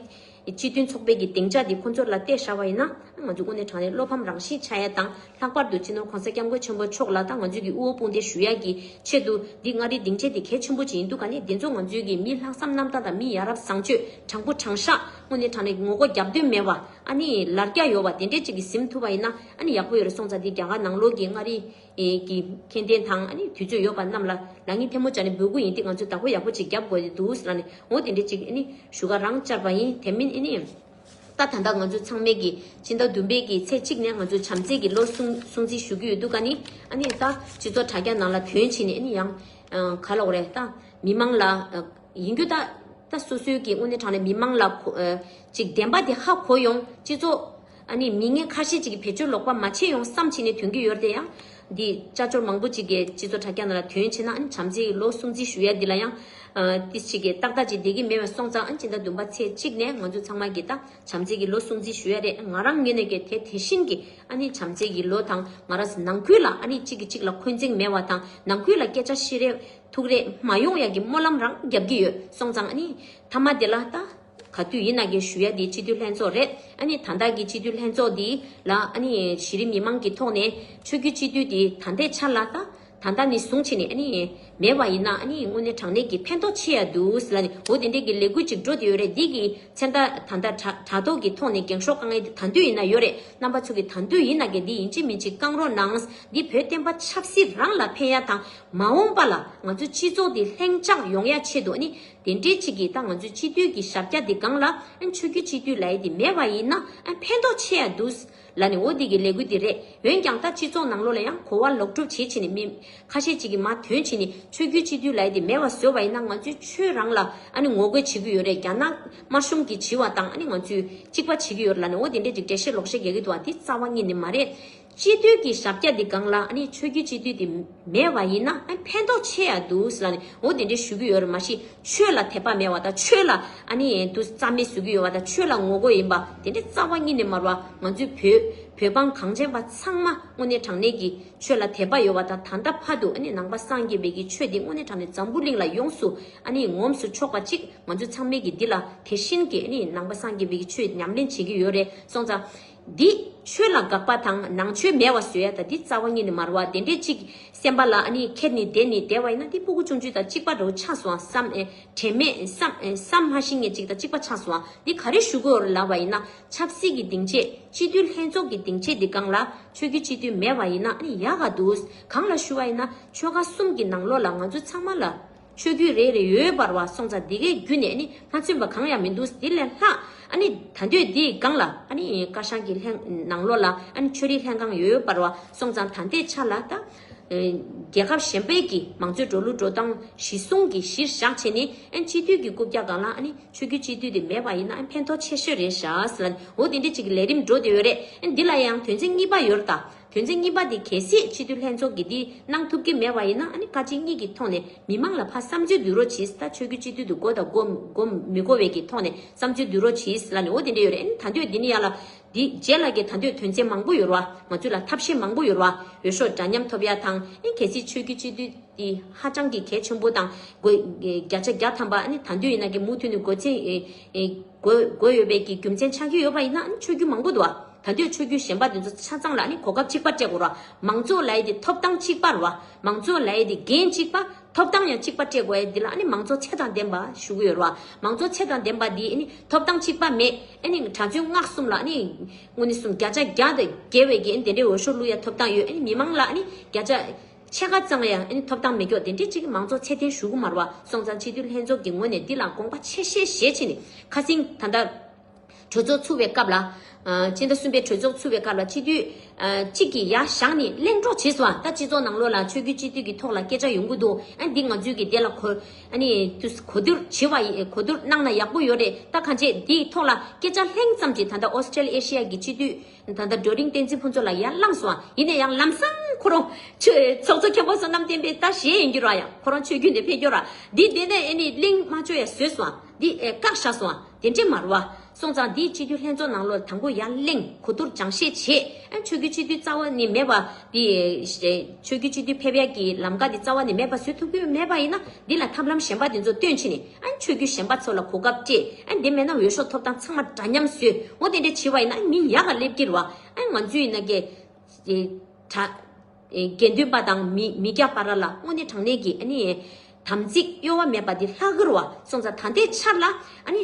སྤྱི་མཐུན་ཚོགས་པའི་གི་སྡིངས་ཆ་དེ་ཁོང་ཚོར་ལ་གཏད་ཤར་བ་ཡིན་ན་ཨེ་ང་ཚོས་དངོས་གནས་དྲང་གནས་བློ་ཕམ་རང་བཞིན་ཆགས་ཡ་དང་ལྷག་པར་དུ་སྤྱི་ནོར་གོང་ས་སྐྱབས་མགོན་ཆེན་པོ་མཆོག་ལ་དང་ང་ཚོའི་གི་དབུ་བོ་དཔུང་སྡེ་ཞུ་ཡ་གི་ཆེད་དུ་འདི་མངའ་རིས་སྡིངས་ཆའི་དེ་གལ་ཆེན་པོ་ཅིག་ཡིན་འདུག་ག་ནས་དེ་ཚོ་ང་ཚོའི་གི་མི་ལྷག་བསམ་རྣམ་དག་དང་མི་ཡ་རབས་བཟང་སྤྱོད་དྲང་པོ་དྲང་ཤ་དངོས་གནས་དྲང་གནས་ངོ་རྒོ་རྒྱབ་འདོད་མེད་བ་ཨ་ནི་ལར་རྒྱ་ཡོ་བ་དེ་འདྲས་ཅིག་གི་གཟིམ་ཐུབ་པ་ཡིན་ན། ཨ་ནི་ཡག་པོ་ཡོད་རེད་སོང་ཙང་འདི་རྒྱ་གར་ནང་ལོག་གི་མངའ་རིས་ཀྱི་མཁྱེན་ལྡན་དང་ཨ་ནི་དུས་ཚོད་ཡོད་པ་རྣམས་ལ་ལ་ངའི་ཐལ་མོ་བྱ་ནི་འབོད་སྐུལ་ཡིན་ཏེ་ང་ཚོས་བདག་པོ་ཡག་པོ་ཅིག་རྒྱབ་དགོས་ཏེ་འདུག་ཟེར་ན་ནི་འོ་དེ་འདྲའི་ཅིག་ཨ་ནི་ཞུ་ཁ་རང་བཅར་བ་ཡིན་དེ་མིན་ཨ་ནི། ད་ད་ལྟ་ང་ཚོས་ཚང་མས་ཀྱི་སྤྱི་ཟླ་བདུན་པའི་གི་ཚེས་གཅིག་ནས་ང་ཚོས་བྱམས་བརྩེ་གི་ལོ་སྲུང་སྲུང་བརྩི་ཞུ་གི་ཡོད་འདུག་ཨ་ནི་ཨ་ནི་ད་སྤྱི་ཚོགས་དྲ་རྒྱ་ནང་ལ་དོན་ཕྱིན་ནི་ཨ་ནི་ཡང་ག་ལོག་རེད་ད་མི་མང་ལ་ཡིན་རྒྱུ་ད་ད་སོ་སོའི་གི་དངོས་གནས་དྲང་ནས་མི་མང་ལ་གོ་ཅིག་བདེན་པ་དེ་ཧ་གོ་ཡོང་སྤྱི་ཚོགས། ཨ་ནི་མི་ངན་ཁ་ཤས་ཅིག་གིས་བེད་སྤྱོད་ལོག་པ་མ་བྱེད་ཡོང་བསམ་བྱེད་ནས་དོན་གྱི་ཡོར་དེ་ཡང། འདི་ཅག་ཅོར་མང་པོ་ཅིག་གིས་སྤྱི་ཚོགས་དྲ་རྒྱ་ནང་ལ་དོན་བྱེད་ན་ཨ་ནི་བྱམས་བརྩེ་ཡི་ལོ་གསུམ་རྩིས་ཞུ་ཡ་འདི་ལ་ཡང། ཏི་ཞིག་གིས་ཏག་ཏག་ཅིག་བསྡད་ཀྱི་མེད་བས་སོང་ཙང་ཨ་ནི་སྤྱི་ཟླ་བདུན་པ་ཚེས་གཅིག་ནས་ང་ཚོ་ཚང་མ་གིས་ད་བྱམས་བརྩེ་ཡི་ལོ་གསུམ་རྩིས་ཞུ་ཡ་རེད་ང་རང་ཉོས་ནས་ཀྱི་དེ་དེ་བཞིན་གྱི་ཨ་ནི་བྱམས་བརྩེ་ཡི་ལོ་དང་ང་རང་ནང་ཁུལ་ལ་ཨ་ནི་གཅིག་གིས་གཅིག་ལ་འཁོན་འཛིང་མེད་བ་དང་ནང་ཁུལ་ལ་སྐད་ཆ་ཤི་རེ་ཐུག་རེ་མ་ཡོང་ཡ་གི་སྨོན་ལམ་རང་རྒྱབ་ཀྱི་ཡོད་སོང་ཙང་ཨ་ནི་ཐ་མ་དེ་ལ་ད། ག་དུས་ཡིན་ན་དགེ་བཤུས་ཡ་དེ་སྤྱི་འཐུས་ལྷན་ཚོགས་རེད་ཨ་ནི་ད་ལྟ་གི་སྤྱི་འཐུས་ལྷན་ཚོགས་འདི་ལ་ཨ་ནི་གཞི་རིམ་མི་མང་གི་ཐོག་ནས་ཆོས་རྒྱུད་སྤྱི་འཐུས་དེ་ད་ལྟའི་ཆར་ལ་ད་ད་ལྟ་ནས་བཟུང་བྱས་ནས་ཨ་ནི་མེད་པ་ཡིན་ན་ཨ་ནི་དངོས་གནས་དྲང་གནས་ཀྱི་ཕན་ཐོག་ཆེ་ཡ་འདུག་ཟེར་ལ་ནི་འོ་དེ་འདྲའི་གི་ལས་འགུལ་ཅིག་འགྲོ་དེ་ཡོད་རེད་འདི་གི་ཚེ་མདའ་ད་ལྟ་དྲ་དྲ་ཐོག་གི་ཐོག་ནས་འགེངས་ཤོག་དཀའ་ངལ་དེ་ད་དུས་ཡིན་ན་ཡོད་རེད་རྣམ་པ་ཚོ་གི་ད་དུས་ཡིན་ན་གི་འདི་ཡིན་ཅིག་མིན་ཅིག་བསྐང་རོགས་གནང་འདི་བོད་བསྟན་པ་ཆབ་སྲིད་རང་ལ་ཕན་ཡ་དང་མ་འོངས་པ་ལ་ང་ཚོ་སྤྱི་ཚོགས་དེ་ལྷེང་འཇགས་ཡོང་ཡ་ཆེད་དུ་ཨ་ནི། དེ་འདྲའི་ཆེད་ཀྱིས་ད་ང་ཚོའི་སྤྱི་འཐུས་ཀྱི་ཞབས་བཀྱག་འདི་སྒང་ལ་འཆོས་རྒྱུ་སྤྱི་འཐུས་ལའི་དེ་མེད་པ་ཡིན་ན་ཕན་ཐོག་ཆེ་ཡ་འདུག་ལ་ནི་འོ་འདི་གི་ལས་འགུལ་འདི་རེད་འོན་ཀྱང་ད་སྤྱི་ཚོགས་ནང་ལོག་ལ་ཡང་གོ་བ་ལོག་སྒྲུབ་བྱེད་བྱེད་ནས་མི་ཁ་ཤས་ཅིག་གིས་མ་དོན་བྱེད་ནས་འཆོས་རྒྱུ་སྤྱི་འཐུས་ལའི་དེ་མེད་པ་བཟོས་པ་ཡིན་ན་ང་ཚོའི་ཆོས་རང་ལ་ངོ་རྒོལ་བྱེད་ཀྱི་ཡོད་རེད་རྒྱ་ནག་དམར་གཞུང་གིས་བྱིས་བ་དང་ང་ཚོས་གཅིག་པ་བྱེད་ཀྱི་ཡོད་རེད་ལ་ནི་འོ་དེ་འདྲའི་རིགས་འགྲེལ་བཤད་ལོག་བཤད་རྒྱག་གི་འདུག་བ་འདི་རྩ་བ་ཉིད་ནས་མ་རེད། སྤྱི་འཐུས་ཀྱི་ཞབས་རྒྱ་འདི་སྒང་ལ་ཆོས་རྒྱུད་སྤྱི་འཐུས་དེ་མེད་པ་ཡིན་ན་ཕན་ཐོག་ཆེ་ཡ་འདུག་ཟེར་ནས་འོ་དེ་འདྲའི་ཞུ་གི་ཡོད་རེད་མ་གཞི་ཆོས་ལ་དད་པ་མེད་བ་དང་ཆོས་ལ་དུ་རྩ་མེད་བཟོ་གི་ཡོད་བ་དང་ཆོས་ལ་ངོ་རྒོལ་ཡིན་པ་དེ་འདྲའི་རྩ་བ་གཉིས་ནས་མར་བ་ང་ཚོའི་བོད་བོད་འབངས་གངས་ཅན་པ་ཚང་མ་དངོས་གནས་དྲང་གནས་ཀྱི་ཆོས་ལ་དད་པ་ཡོད་བ་དང་ད་ལྟ་ཕ་དུ་ནང་པ་སངས་རྒྱས་བས་ཀྱི་ཆོས་འདི་དངོས་གནས་དྲང་ནས་འཛམ་བུ་གླིང་ལ་ཡོངས་སུ་ངོམས་སུ་ཆོག་པ་ཅིག་ང་ཚོ་ཚང་མས་ཀྱི་འདི་ལ་དེ་བཞིན་གྱི་ནང་པ་སངས་རྒྱས་བས་ཀྱི་ཆོས་ཉམས་ལེན་བྱེད་ཀྱི་ཡོད་རེད་སོང་ཙང། འདི། ཆོས་ལ་དགག་པ་དང་ནང་ཆོས་མེད་བ་བཟོས་ཡ་ད་འདི་རྩ་བ་གཉིས་ནི་མར་བ་དེ་འདྲས་གཅིག་སེམས་པ་ལ་ནི་ཁེར་ནི་བདེ་ནི་བདེ་བ་ཡིན་ན་འདི་སྤུ་གུ་ཆུང་ཆུང་དང་གཅིག་པ་རོ་ཆགས་སུའང་བསམ་ཨེ་དྲན་མེད་བསམ་བསམ་སྨྲ་ཤིང་ངེ་གཅིག་དང་གཅིག་པ་ཆགས་སུའང་འདི་ག་རེ་ཞུ་དགོས་ལ་བ་ཡིན་ན་ཆབ་སྲིད་ཀྱི་སྡིངས་ཆས་སྤྱི་འཐུས་ལྷན་ཚོགས་ཀྱི་སྡིངས་ཆས་འདི་གང་ལ་ཆོས་རྒྱུད་སྤྱི་འཐུས་མེད་བ་ཡིན་ན་ནི་ཡག་ག་འདུག་གང་ལ་ཞུ་བ་ཡིན་ན་ཆོལ་ཁ་གསུམ་གྱི་ནང་ལོགས་ལ་ང་ཚོ་ཚང་མ་ལ། ཆོས་བརྒྱུད་རེ་རེ་ཡོད་པར་བ་སོང་ཙང་འདི་གའི་བརྒྱུད་ནས་ནི་མ་མཚོན་པ་གང་ཡང་མི་འདུག་འདི་ལས་ལྷག་ཨ་ནི་ད་འདོད་འདིའི་སྒང་ལ་ཨ་ནི་ཀ་ཤང་གི་ལྷན་ནང་ལོགས་ལ་ཨ་ནི་ཆོས་རིག་ལྷན་ཁང་ཡོད་པར་བ་སོང་ཙང་ད་འདི་ཆ་ལ་ད་རྒྱལ་ཁབ་གཞན་པའི་གི་མང་གཙོའི་འགྲོ་ལུགས་འགྲོ་སྟངས་གཞི་བཟུང་གི་གཞིར་བཞག་བྱས་ནས་ཨ་ནི་སྤྱི་འཐུས་ཀྱི་རྐུབ་བཀྱག་སྒང་ལ་ཨ་ནི་ཆོས་བརྒྱུད་སྤྱི་འཐུས་དེ་མེད་པ་ཡིན་ན་ཨ་ནི་ཕན་ཐོག་ཆེ་ཤོས་རེད་ཤགས་ལ་ནི་འོ་དེ་འདྲི་བྱེད་ཀྱི་ལས་རིམ་འགྲོ་དེ་ཡོད་རེད་ཨ་ནི་འདི་ལ་ཡང་དོན་ཚན་གཉིས་པ་ཡོད་ར་ད། དོན་ཚན་གཉིས་པ་དེ་གལ་སྲིད་སྤྱི་འཐུས་ལྷན་ཚོགས་ཀྱིས་འདི་གནང་ཐུབ་ཀྱི་མེད་པ་ཡིན་ན་ཨ་ནི་བཀའ་སྤྱི་གཉིས་ཀྱི་ཐོག་ནས་མི་མང་ལ་ཕ་བསམ་བརྗོད་འདུས་རོགས་གྱིས་ད་ཆོས་རྒྱུ་སྤྱི་འཐུས་དུ་གོ་དང་གོ་མི་གོ་བའི་ཀྱི་ཐོག་ནས་བསམ་བརྗོད་འདུས་རོགས་གྱིས་ལ་ནི་འོ་དེ་འདྲས་ཡོད་རེད་ཨ་ནི་ད་འདོད་འདི་ནི་ཡ་ལ་འདི་རྗེས་ལ་ཀྱི་ད་འདོད་དོན་ཚན་མང་པོ་ཡོད་རོ་ཨ་ང་ཚོས་ལ་ཐབས་ཤེས་མང་པོ་ཡོད་རོ་ཨ་འོས་ཤོག་འདྲ་མཉམ་ཐོབ་ཡ་དང་ཨ་ནི་གལ་སྲིད་ཆོས་རྒྱུ་སྤྱི་འཐུས་འདི་ཧ་ཅང་གི་གལ་ཆེན་པོ་དང་དགོས་བརྒྱ་ཆ་བརྒྱ་ཐམ་པ་ཨ་ནི་ད་འདོད་ཡིན་ན་ཀྱི་མུ་མཐུད་ནས་དགོས་ཚན་དགོས་ཡོད་པའི་ཀྱི་རྒྱུ་མཚན་ཆགས་ཀྱི་ཡོད་པ་ཡིན་ན་ཨ་ནི་ཆོས་རྒྱུ་མང་པོ་འདུག་ཨ། ད་དུས་ཆོས་རྒྱུད་གཞན་པ་དེ་ཚོ་ཆ་ཚང་ལ་ནི་གོ་སྐབས་གཅིག་པ་སྤྲད་དགོས་རོགས་མང་གཙོ་ལའི་དེ་ཐོབ་ཐང་གཅིག་པ་རོགས་མང་གཙོ་ལའི་དེ་འགན་གཅིག་པ་ཐོབ་ཐང་ཡང་གཅིག་པ་སྤྲད་དགོས་དེ་ལ་ནི་མང་གཙོ་ཚད་དང་ལྡན་པ་ཞུ་གི་ཡོད་རོགས་མང་གཙོ་ཚད་དང་ལྡན་པ་དེ་ནི་ཐོབ་ཐང་གཅིག་པ་མེད་ཨེ་ནི་གྲྭ་བཙུན་སྔགས་གསུམ་ལ་ནི་དངོས་ནི་སུམ་བརྒྱ་ཆ་བརྒྱ་དང་བརྒལ་བའི་གི་དེ་འདྲའི་འོས་ཤོག་བླུག་ཡ་ཐོབ་ཐང་ཡོད་ཨེ་ནི་མི་མང་ལ་ནི་བརྒྱ་ཆ་ཕྱེད་ཀ་ཙང་ཡང་ཨེ་ནི་ཐོབ་ཐང་མེད་ཀྱོག་དེ་འདྲའི་གཅིག་མང་གཙོ་ཚད་ལྡན་ཞུ་གི་མ་རོགས་སོང་ཙང་སྤྱི་འཐུས་ལྷན་ཚོགས་ཀྱི་ངོས་ནས་དེ་ལ་དགོངས་པ་ཆེ་བཞེས་བཞེས་བྱས་ནི་ཁ་སིང་ད་ལྟ། གྲོས་ཚོགས་ཚུགས་པའི་སྐབས་ལ། སྤྱི་ཟླ་གསུམ་པའི་གྲོས་ཚོགས་ཚུགས་པའི་སྐབས་ལ་སྤྱི་འཐུས་གཅིག་གིས་ཡ་བཞག་ནས་གླེང་གྲོགས་བྱས་སོང། ད་སྤྱི་ཚོགས་ནང་ལོགས་ལ་ཆོས་རྒྱུད་སྤྱི་འཐུས་ཀྱི་ཐོག་ལ་སྐད་ཆ་ཡོང་གི་འདུག་ཨ་འདི་ང་ཚོས་ཀྱི་དེ་ལ་གོ། གོ་བསྡུར་བྱེད་པ་ཡིན་གོ་བསྡུར་གནང་ན་ཡག་པོ་ཡོད་རེད་ད་གང་བྱེད་འདིའི་ཐོག་ལ་སྐད་ཆ་ལྷེང་ཙམ་གྱིས་ད་ལྟ Australasia གྱི་སྤྱི་འཐུས་ད་ལྟ་སྒྲོལ་རིང་བསྟན་འཛིན་ཕུན་ཚོགས་ལ་ཡར་བསླངས་སོང་ཡིན་ན་ཡང་ལམ་སང་ཁོ་རང་ཆོས་ཚོགས་གཙོ་མཁན་པོ་བསོད་ནམས་བསྟན་པའི་ལྟ་བཞེས་ཡིན་རྒྱུ་རང་ཡང་ཁོ་རང་ཆོས་རྒྱུད་འདི་འཕེལ་རྒྱོ་ར་འདི་འདི་ནས་གླེང་མ་བཅོ་ཡ་བཟོས་སོང། འདི་བཀག་བཞག་སོང་བ་དེ་འདྲས་མ་རུ་བ། སོང་ཙང་འདིའི་སྤྱི་འཐུས་ལྷན་ཚོགས་ནང་ལོ་དང་པོ་ཡར་གླེང་གོ་བསྡུར་སྦྱང་བཤད་བྱས། ཆོས་རྒྱུད་སྤྱི་འཐུས་རྩ་བ་ནས་མེད་པ། འདི་ཆོས་རྒྱུད་སྤྱི་འཐུས་ཕེབས་ཡག་གི་ལམ་ཀ་འདི་རྩ་བ་ནས་མེད་པ་བཟོས་ཐུབ་ཀྱི་མེད་པ་ཡིན་ན། འདི་ལ་ཐབས་ལམ་གཞན་པ་དེ་ཚོ་བཏོན་ཕྱིན་ནས། ཆོས་རྒྱུད་གཞན་པ་ཚོ་ལ་གོ་སྐབས་སྤྲད། དེ་མེད་ན་འོས་ཤོག་ཐོབ་སྟངས་ཚང་མ་འདྲ་མཉམ་བཟོས། འོ་དེ་འདྲས་བྱས་པ་ཡིན་ན་མི་ཡག་ག་སླེབས་ཀྱི་རུ་བ། ང་ཚོས་ཡིན་ན། དགེ་འདུན་པ་དང་མི་སྐྱ་པ་ར་ལ་སྔོ་ནི་དྲང་ནད་ཀྱི། དམ་ཚིག་གཡོ་བ་མེད་པ་འདི་ལྷ་གུར་བ་སོང་ཚ་ད་ལྟའི་ཆར་ལ།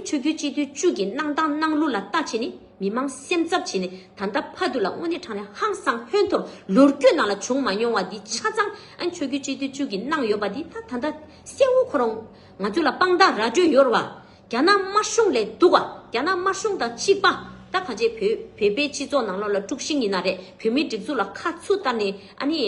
ཆོས་རྒྱུད་སྤྱི་འཐུས་བཅུ་གྱི་གནང་སྟངས་གནང་ལུགས་ལ་ལྟ་བྱེད་ནི་མི་མང་སེམས་འཚབ་བྱེད་ནི་ད་ལྟ་ཕ་དུ་ལ་སྔོ་ནི་དྲང་ནད་ཧང་སང་ཧོན་ཐོར་ལུར་སྐྱོད་ནང་ལ་བྱུང་མ་མྱོང་བ་འདི་ཆ་ཚང་ཆོས་རྒྱུད་སྤྱི་འཐུས་བཅུ་གྱི་གནང་ཡོད་པ་འདི་ད་ད་ད་སེའུ་ཁོ་རང་ང་ཚོ་ལ་དཔང་རྟགས་ར་སྤྲོད་ཡོར་བ་རྒྱ་ནག་དམར་གཞུང་ལས་སྡུག་ཨ། རྒྱ་ནག་དམར་གཞུང་དང་གཅིག་པ། ད་ག་རྗེས་བོད་བོད་པའི་སྤྱི་ཚོགས་ནང་ལོག་ལ་དཀྲུགས་ཤིང་ཡིན་ན་རེད་བོད་མིའི་སྒྲིག་འཛུགས་ལ་ཁ་མཆུ་ལྟར་ནི་ཨ་ནི།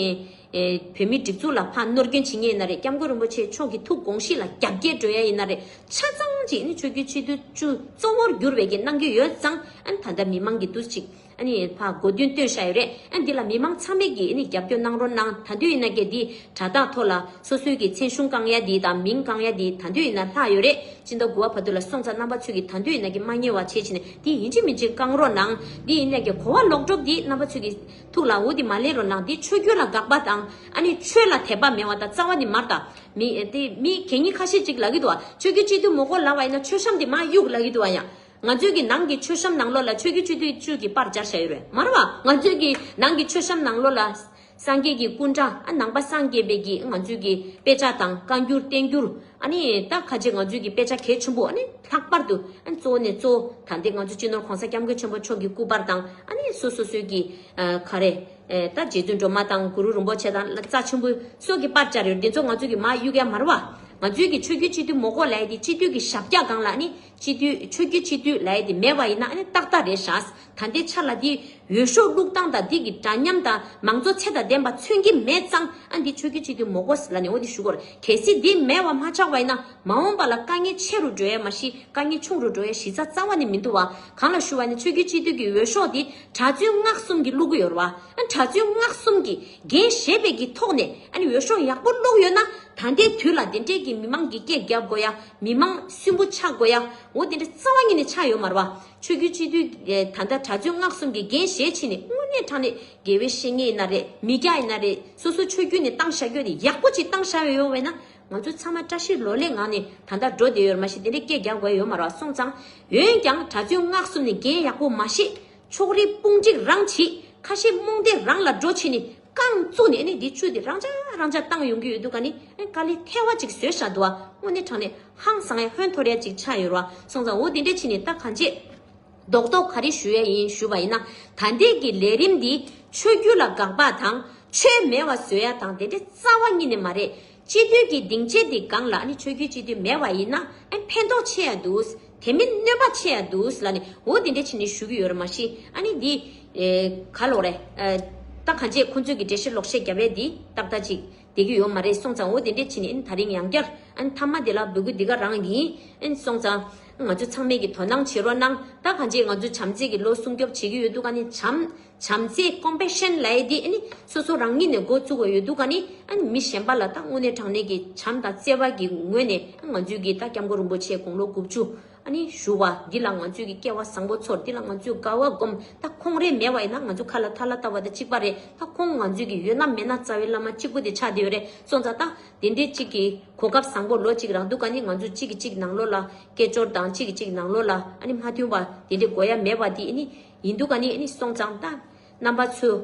བོད་མིའི་སྒྲིག་འཛུགས་ལ་ཕ་གནོར་སྐྱོན་བྱེད་ངེས་ཡིན་ན་རེད་སྐྱབས་མགོན་རིན་པོ་ཆེ་མཆོག་གི་ཐུགས་དགོངས་གཞི་ལ་རྒྱ་བསྐྱེད་འགྲོ་ཡ་ཡིན་ན་རེད་ཆ་ཚང་གཅིག་ཨ་ནི་ཆོས་རྒྱུད་སྤྱི་འཐུས་གཙོ་བོར་འགྱུར་བའི་གི་གནང་རྒྱུ་ཡོད་ཙང་ཨ་ནི་ད་ལྟ་མི་མང་གི་འདུ་གཅིག། འཕགས་གོ་རྒྱུན་སྟོན་བྱ་ཡོད་རེད་འདི་ལ་མི་མང་ཚང་མས་ཀྱིས་རྒྱབ་སྐྱོར་གནང་རོགས་གནང་ད་དུས་ཡིན་ན་སྐད་འདི་དྲ་བདག་ཐོག་ལ་སོ་སོའི་གྱི་མཚན་གཞུང་གང་ཡ་འདི་དང་མིང་གང་ཡ་འདི་ད་དུས་ཡིན་ན་ལྷག་ཡོད་རེད་སྤྱི་ཟླ་དགུ་བ་བར་དུ་ལ་སོང་ཙང་རྣམ་པ་ཚོས་ཀྱི་ད་དུས་ཡིན་ན་གྱི་མ་ཉེས་བ་བྱས་བྱས་ནས་འདི་ཡིན་ཅི་མིན་ཅི་གང་རོགས་གནང་འདི་ཡིན་ན་གྱི་གོ་བ་ལོག་གྲོགས་འདི་རྣམ་པ་ཚོས་ཀྱི་ཐུགས་ལ་འོ་འདི་མ་ལེན་རོགས་གནང་འདི་ཆོས་རྒྱུད་ལ་དགག་པ་དང་ཆོས་ལ་དད་པ་མེད་བ་དང་རྩ་བ་ནི་མར་དང་མི་མི་གད་སྙིགས་ཁ་ཤས་ཅིག་ལ་གི་འདུག་བ་ཆོས་རྒྱུད་སྤྱི་འཐུས་མོ་གོ་ལ་བ་ཡིན་ན་ཆོས་གཤམ་འདི་མ་གཡུག་ལ་གི་འདུག་བ་ཡང་ང་ཚོས་ཀྱི་ནང་གི་མཆོད་བཤམས་ནང་ལོགས་ལ་ཆོས་ཀྱི་ཆུ་དུས་ཆུ་གི་པར་སྦྱར་བྱ་ཡོད་རེད་མ་རེད་བ། ང་ཚོས་ཀྱི་ནང་གི་མཆོད་བཤམས་ནང་ལོགས་ལ། སངས་རྒྱས་ཀྱི་སྐུ་འདྲ་ཨ་ནང་པ་སངས་རྒྱས་པའི་ཀྱིས་ང་ཚོས་ཀྱི་དཔེ་ཆ་དང་བཀའ་འགྱུར་བསྟན་འགྱུར། ཨ་ནི་ད་ཁ་ཆེ་ང་ཚོས་ཀྱི་དཔེ་ཆ་གལ་ཆེན་པོ་ཨ་ནི་ལྷག་པར་དུ་ཨ་ནི་གཙོ་བོ་ནས་གཙོ་བོ་ད་འདི་ང་ཚོ་སྤྱི་ནོར་གོང་ས་སྐྱབས་མགོན་ཆེན་པོ་མཆོག་གི་སྐུ་པར་དང་ཨ་ནི་སོ་སོ་སོའི་ཀྱི། ཁ་རེ། ད་རྗེ་བཙུན་སྒྲོལ་མ་དང་གུ་རུ་རིན་པོ་ཆེ་དང་རྩ་ཆེན་པོའི་སོགས་ཀྱི་པར་སྦྱར་ཡོད་རེད་འདི་ཚོ་ང་ཚོས་ཀྱི་མ་གཡུག་ག་མ་རེད་བ། ང་ཚོས་ཀྱི་ཆོས་རྒྱུད་སྤྱི་འཐུས་མོ་ཀོ་ལའི་དེ་སྤྱི་འཐུས་ཀྱི་ཞབས་བཀྱག་སྒང་ལ་ཨ་ནི་སྤྱི་འཐུས་ཆོས་རྒྱུད་སྤྱི་འཐུས་ལ་ཡེ་འདི་མེད་པ་ཡིན་ན་ཨ་ནི་ཏག་ཏག་རེད་ཤགས་ད་འདི་ཆ་ལ་འདི་འོས་ཤོག་བླུག་སྟངས་དང་འདི་གི་འདྲ་མཉམ་དང་མང་གཙོ་ཚད་དང་ལྡན་པ་མཚོན་གྱི་མེད་ཙང་ཨ་འདི་ཆོས་རྒྱུད་སྤྱི་འཐུས་མོ་ཀོ་ཟི་ལ་ནས་འོ་འདི་ཞུ་གོ་ར་གལ་སྲིད་འདི་མེད་བ་མ་ཆགས་པ་ཡིན་ན་མ་འོངས་པ་ལ་དཀའ་ངལ་ཆེ་རུ་འགྲོ་ཡ་མ་ཤི་དཀའ་ངལ་ཆུང་རུ་འགྲོ་ཡ་གཞི་རྩ་རྩ་བ་ནས་མི་འདུ་བ་གང་ལ་ཞུ་བ་ནི་ཆོས་རྒྱུད་སྤྱི་འཐུས་ཀྱི་འོས་ཤོག་འདི་གྲ་བཙུན་སྔགས་གསུམ་གྱི་བླུག་གི་ཡོད་ར་བ་ཨ་གྲ་བཙུན་སྔགས་གསུམ་གྱི་འགན་བཞེས་པའི་གྱི་ཐོག་ནས་ཨ་ནི་འོས་ཤོག་ཡག་པོ་བླུག་ཡོད་ན་ད་འདའི་དུས་ལ་འདི་འདྲས་ཀྱི་མི་མང་གི་སྐད་རྒྱབ་དགོ་ཡ་མི་མང་གསུམ་པོ་ཆགས་དགོས་ཡ། འོ་དེ་འདྲ་རྩ་བ་ཉིད་ནས་ཆགས་ཡོད་མར་བ། ཆོས་རྒྱུད་སྤྱི་འཐུས་ད་ལྟ་གྲྭ་བཙུན་སྔགས་གསུམ་གྱི་འགན་བཞེས་ཕྱིན་ནས་དངོས་གནས་དྲང་གནས་དགེ་བའི་བཤེས་གཉེན་ཡིན་ན་རེད་མི་སྐྱ་ཡིན་ན་རེད་སོ་སོ་ཆོས་རྒྱུད་ནས་བཏང་བཞག་རྒྱུ་ནི་ཡག་པོ་ཅིག་བཏང་བཞག་ཡོད་བས་ན་ང་ཚོ་ཚང་མ་བཀྲ་ཤིས་ལོ་ལེགས་ངང་ནས་ད་ལྟ་འགྲོ་བསྡད་ཡོད་མ་གཞི་དེ་འདྲའི་སྐད་རྒྱག་དགོས་ཡོད་མར་བ་སོང་ཙང། འོན་ཀྱང་གྲྭ་བཙུན་སྔགས་གསུམ་ནས་འགན་ཡག་པོ་མ་བཞེས་ཕྱོགས་རིས་དཔུང་འགྲིག་རང་བྱེད་ཁ་ཞེ་རྨོངས་དད་རང་ལ་འགྲོ་ཕྱིན་ནི། རྐང་བཙུགས་ནས་ནི་དེའི་བཅུད་དེ་རང་འཇགས་རང་འཇགས་བཏང་ཡོང་གི་ཡོད་འདུག་ག་ནི་ཀ་ལི་ཐལ་བ་ཅིག་བཟོས་བཞག་འདུག་བ་དངོས་གནས་དྲང་ནས་ཧང་སང་ཡ་ཧོན་འཐོར་ཡ་ཅིག་ཆགས་ཡོད་ར་བ་སོང་ཙང་འོ་དེ་འདྲས་ཕྱིན་ནས་ད་གང་བྱེད། རྡོག་རྡོག་ག་རེ་ཞུ་ཡ་ཡིན་ཞུ་བ་ཡིན་ན་ད་འདས་ཀྱི་ལས་རིམ་འདི་ཆོས་རྒྱུད་ལ་དགག་པ་དང་ཆོས་མེད་བ་བཟོས་ཡ་དང་དེ་འདྲས་རྩ་བ་ཉིད་ནས་མ་རེད། སྤྱི་འཐུས་ཀྱི་སྡིངས་ཆའི་འདི་སྒང་ལ་ནི་ཆོས་རྒྱུད་སྤྱི་འཐུས་མེད་པ་ཡིན་ན་ཨ་ནི་ཕན་ཐོགས་ཆེ་ཡང་འདུག་དེ་མིན་གནོད་པ་ཆེ་ཡང་འདུག་ལ་ནི་འོ་དེ་འདྲའི་ཕྱིར་ནི་ཞུ་གི་ཡོད་རེད་མ་གཞི་ཨ་ནི་འདི། ག་ལོག་རེད། ད་གང་བྱས་ཁོང་ཚོས་ཀྱི་འགྲེལ་བཤད་ལོག་བཤད་རྒྱབ་རེ་འདི་ཏག་ཏག་ཅིག་བསྡད་ཀྱི་ཡོད་མ་རེད་སོང་ཙང་འོ་དེ་འདྲའི་ཕྱིར་ནི་ཨ་ནི་ད་རིང་ཡང་བསྐྱར་ཨ་ནི་མཐའ་མ་དེ་ལ་འབུལ་དགོས་འདི་ག་རང་ཡིན་ཨ་ནི་སོང་ཙང་ང་ཚོ་ཚང་མས་ཀྱི་དོ་སྣང་བྱེད་རོགས་གནང་ད་གང་བྱས་ང་ཚོ་བྱམས་བརྩེ་ཀྱི་ལོ་སྲུང་སྐྱོབ་བྱེད་ཀྱི་ཡོད་འདུག་ཨ་ནི་བྱམས་བྱམས་བརྩེ Compassion ལ་ཡིས་དེ་ནི་སོ་སོ་རང་ཉིད་ནས་འགོ་བཙུགས་བ་ཡོད་འདུག་ག་ནི་མི་གཞན་པ་ལ་ད་དངོས་གནས་དྲང་གནས་ཀྱི་བྱམས་དང་བརྩེ་བ་གི་ངོས་ནས་ང་ཚོས་ཀྱི་ད་སྐྱབས་མགོན་རིན་པོ་ཆེ་དགུང་ལོ་དགུ་བཅུ་ཞུ་བ་འདི་ལ་ང་ཚོས་ཀྱི་སྐལ་བ་བཟང་པོ་ཚོར་འདི་ལ་ང་ཚོས་དགའ་བ་སྒོམ་ད་ཁོང་རེ་མེད་བ་ཡིན་ན་ང་ཚོ་ཁ་ལ་ཐ་ལ་བཏབ་བ་ད་གཅིག་པ་རེད་ད་ཁོང་ང་ཚོས་ཀྱི་ཡོད་ན་མེད་ན་རྩ་བའི་བླ་མ་གཅིག་པོ་དེ་ཆགས་བསྡད་ཡོད་རེད་སོང་ཙང་ད་དེ་འདྲའི་གཅིག་གི་གོ་སྐབས་བཟང་པོ་ལོ་གཅིག་རག་འདུག་ག་ནི་ང་ཚོ་གཅིག་གི་གཅིག་ནང་ལོགས་ལ་སྐད་ཅོར་དང་གཅིག་གི་གཅིག་ནང་ལོགས་ལ་མ་མཐུན་པ་དེ་འདྲའི་དགོས་ཡ་མེད་པ་དེ་ནི་ཡིན་འདུག་ག་ནི་ནི་སོང་ཙང་ད། རྣམ་པ་ཚོས།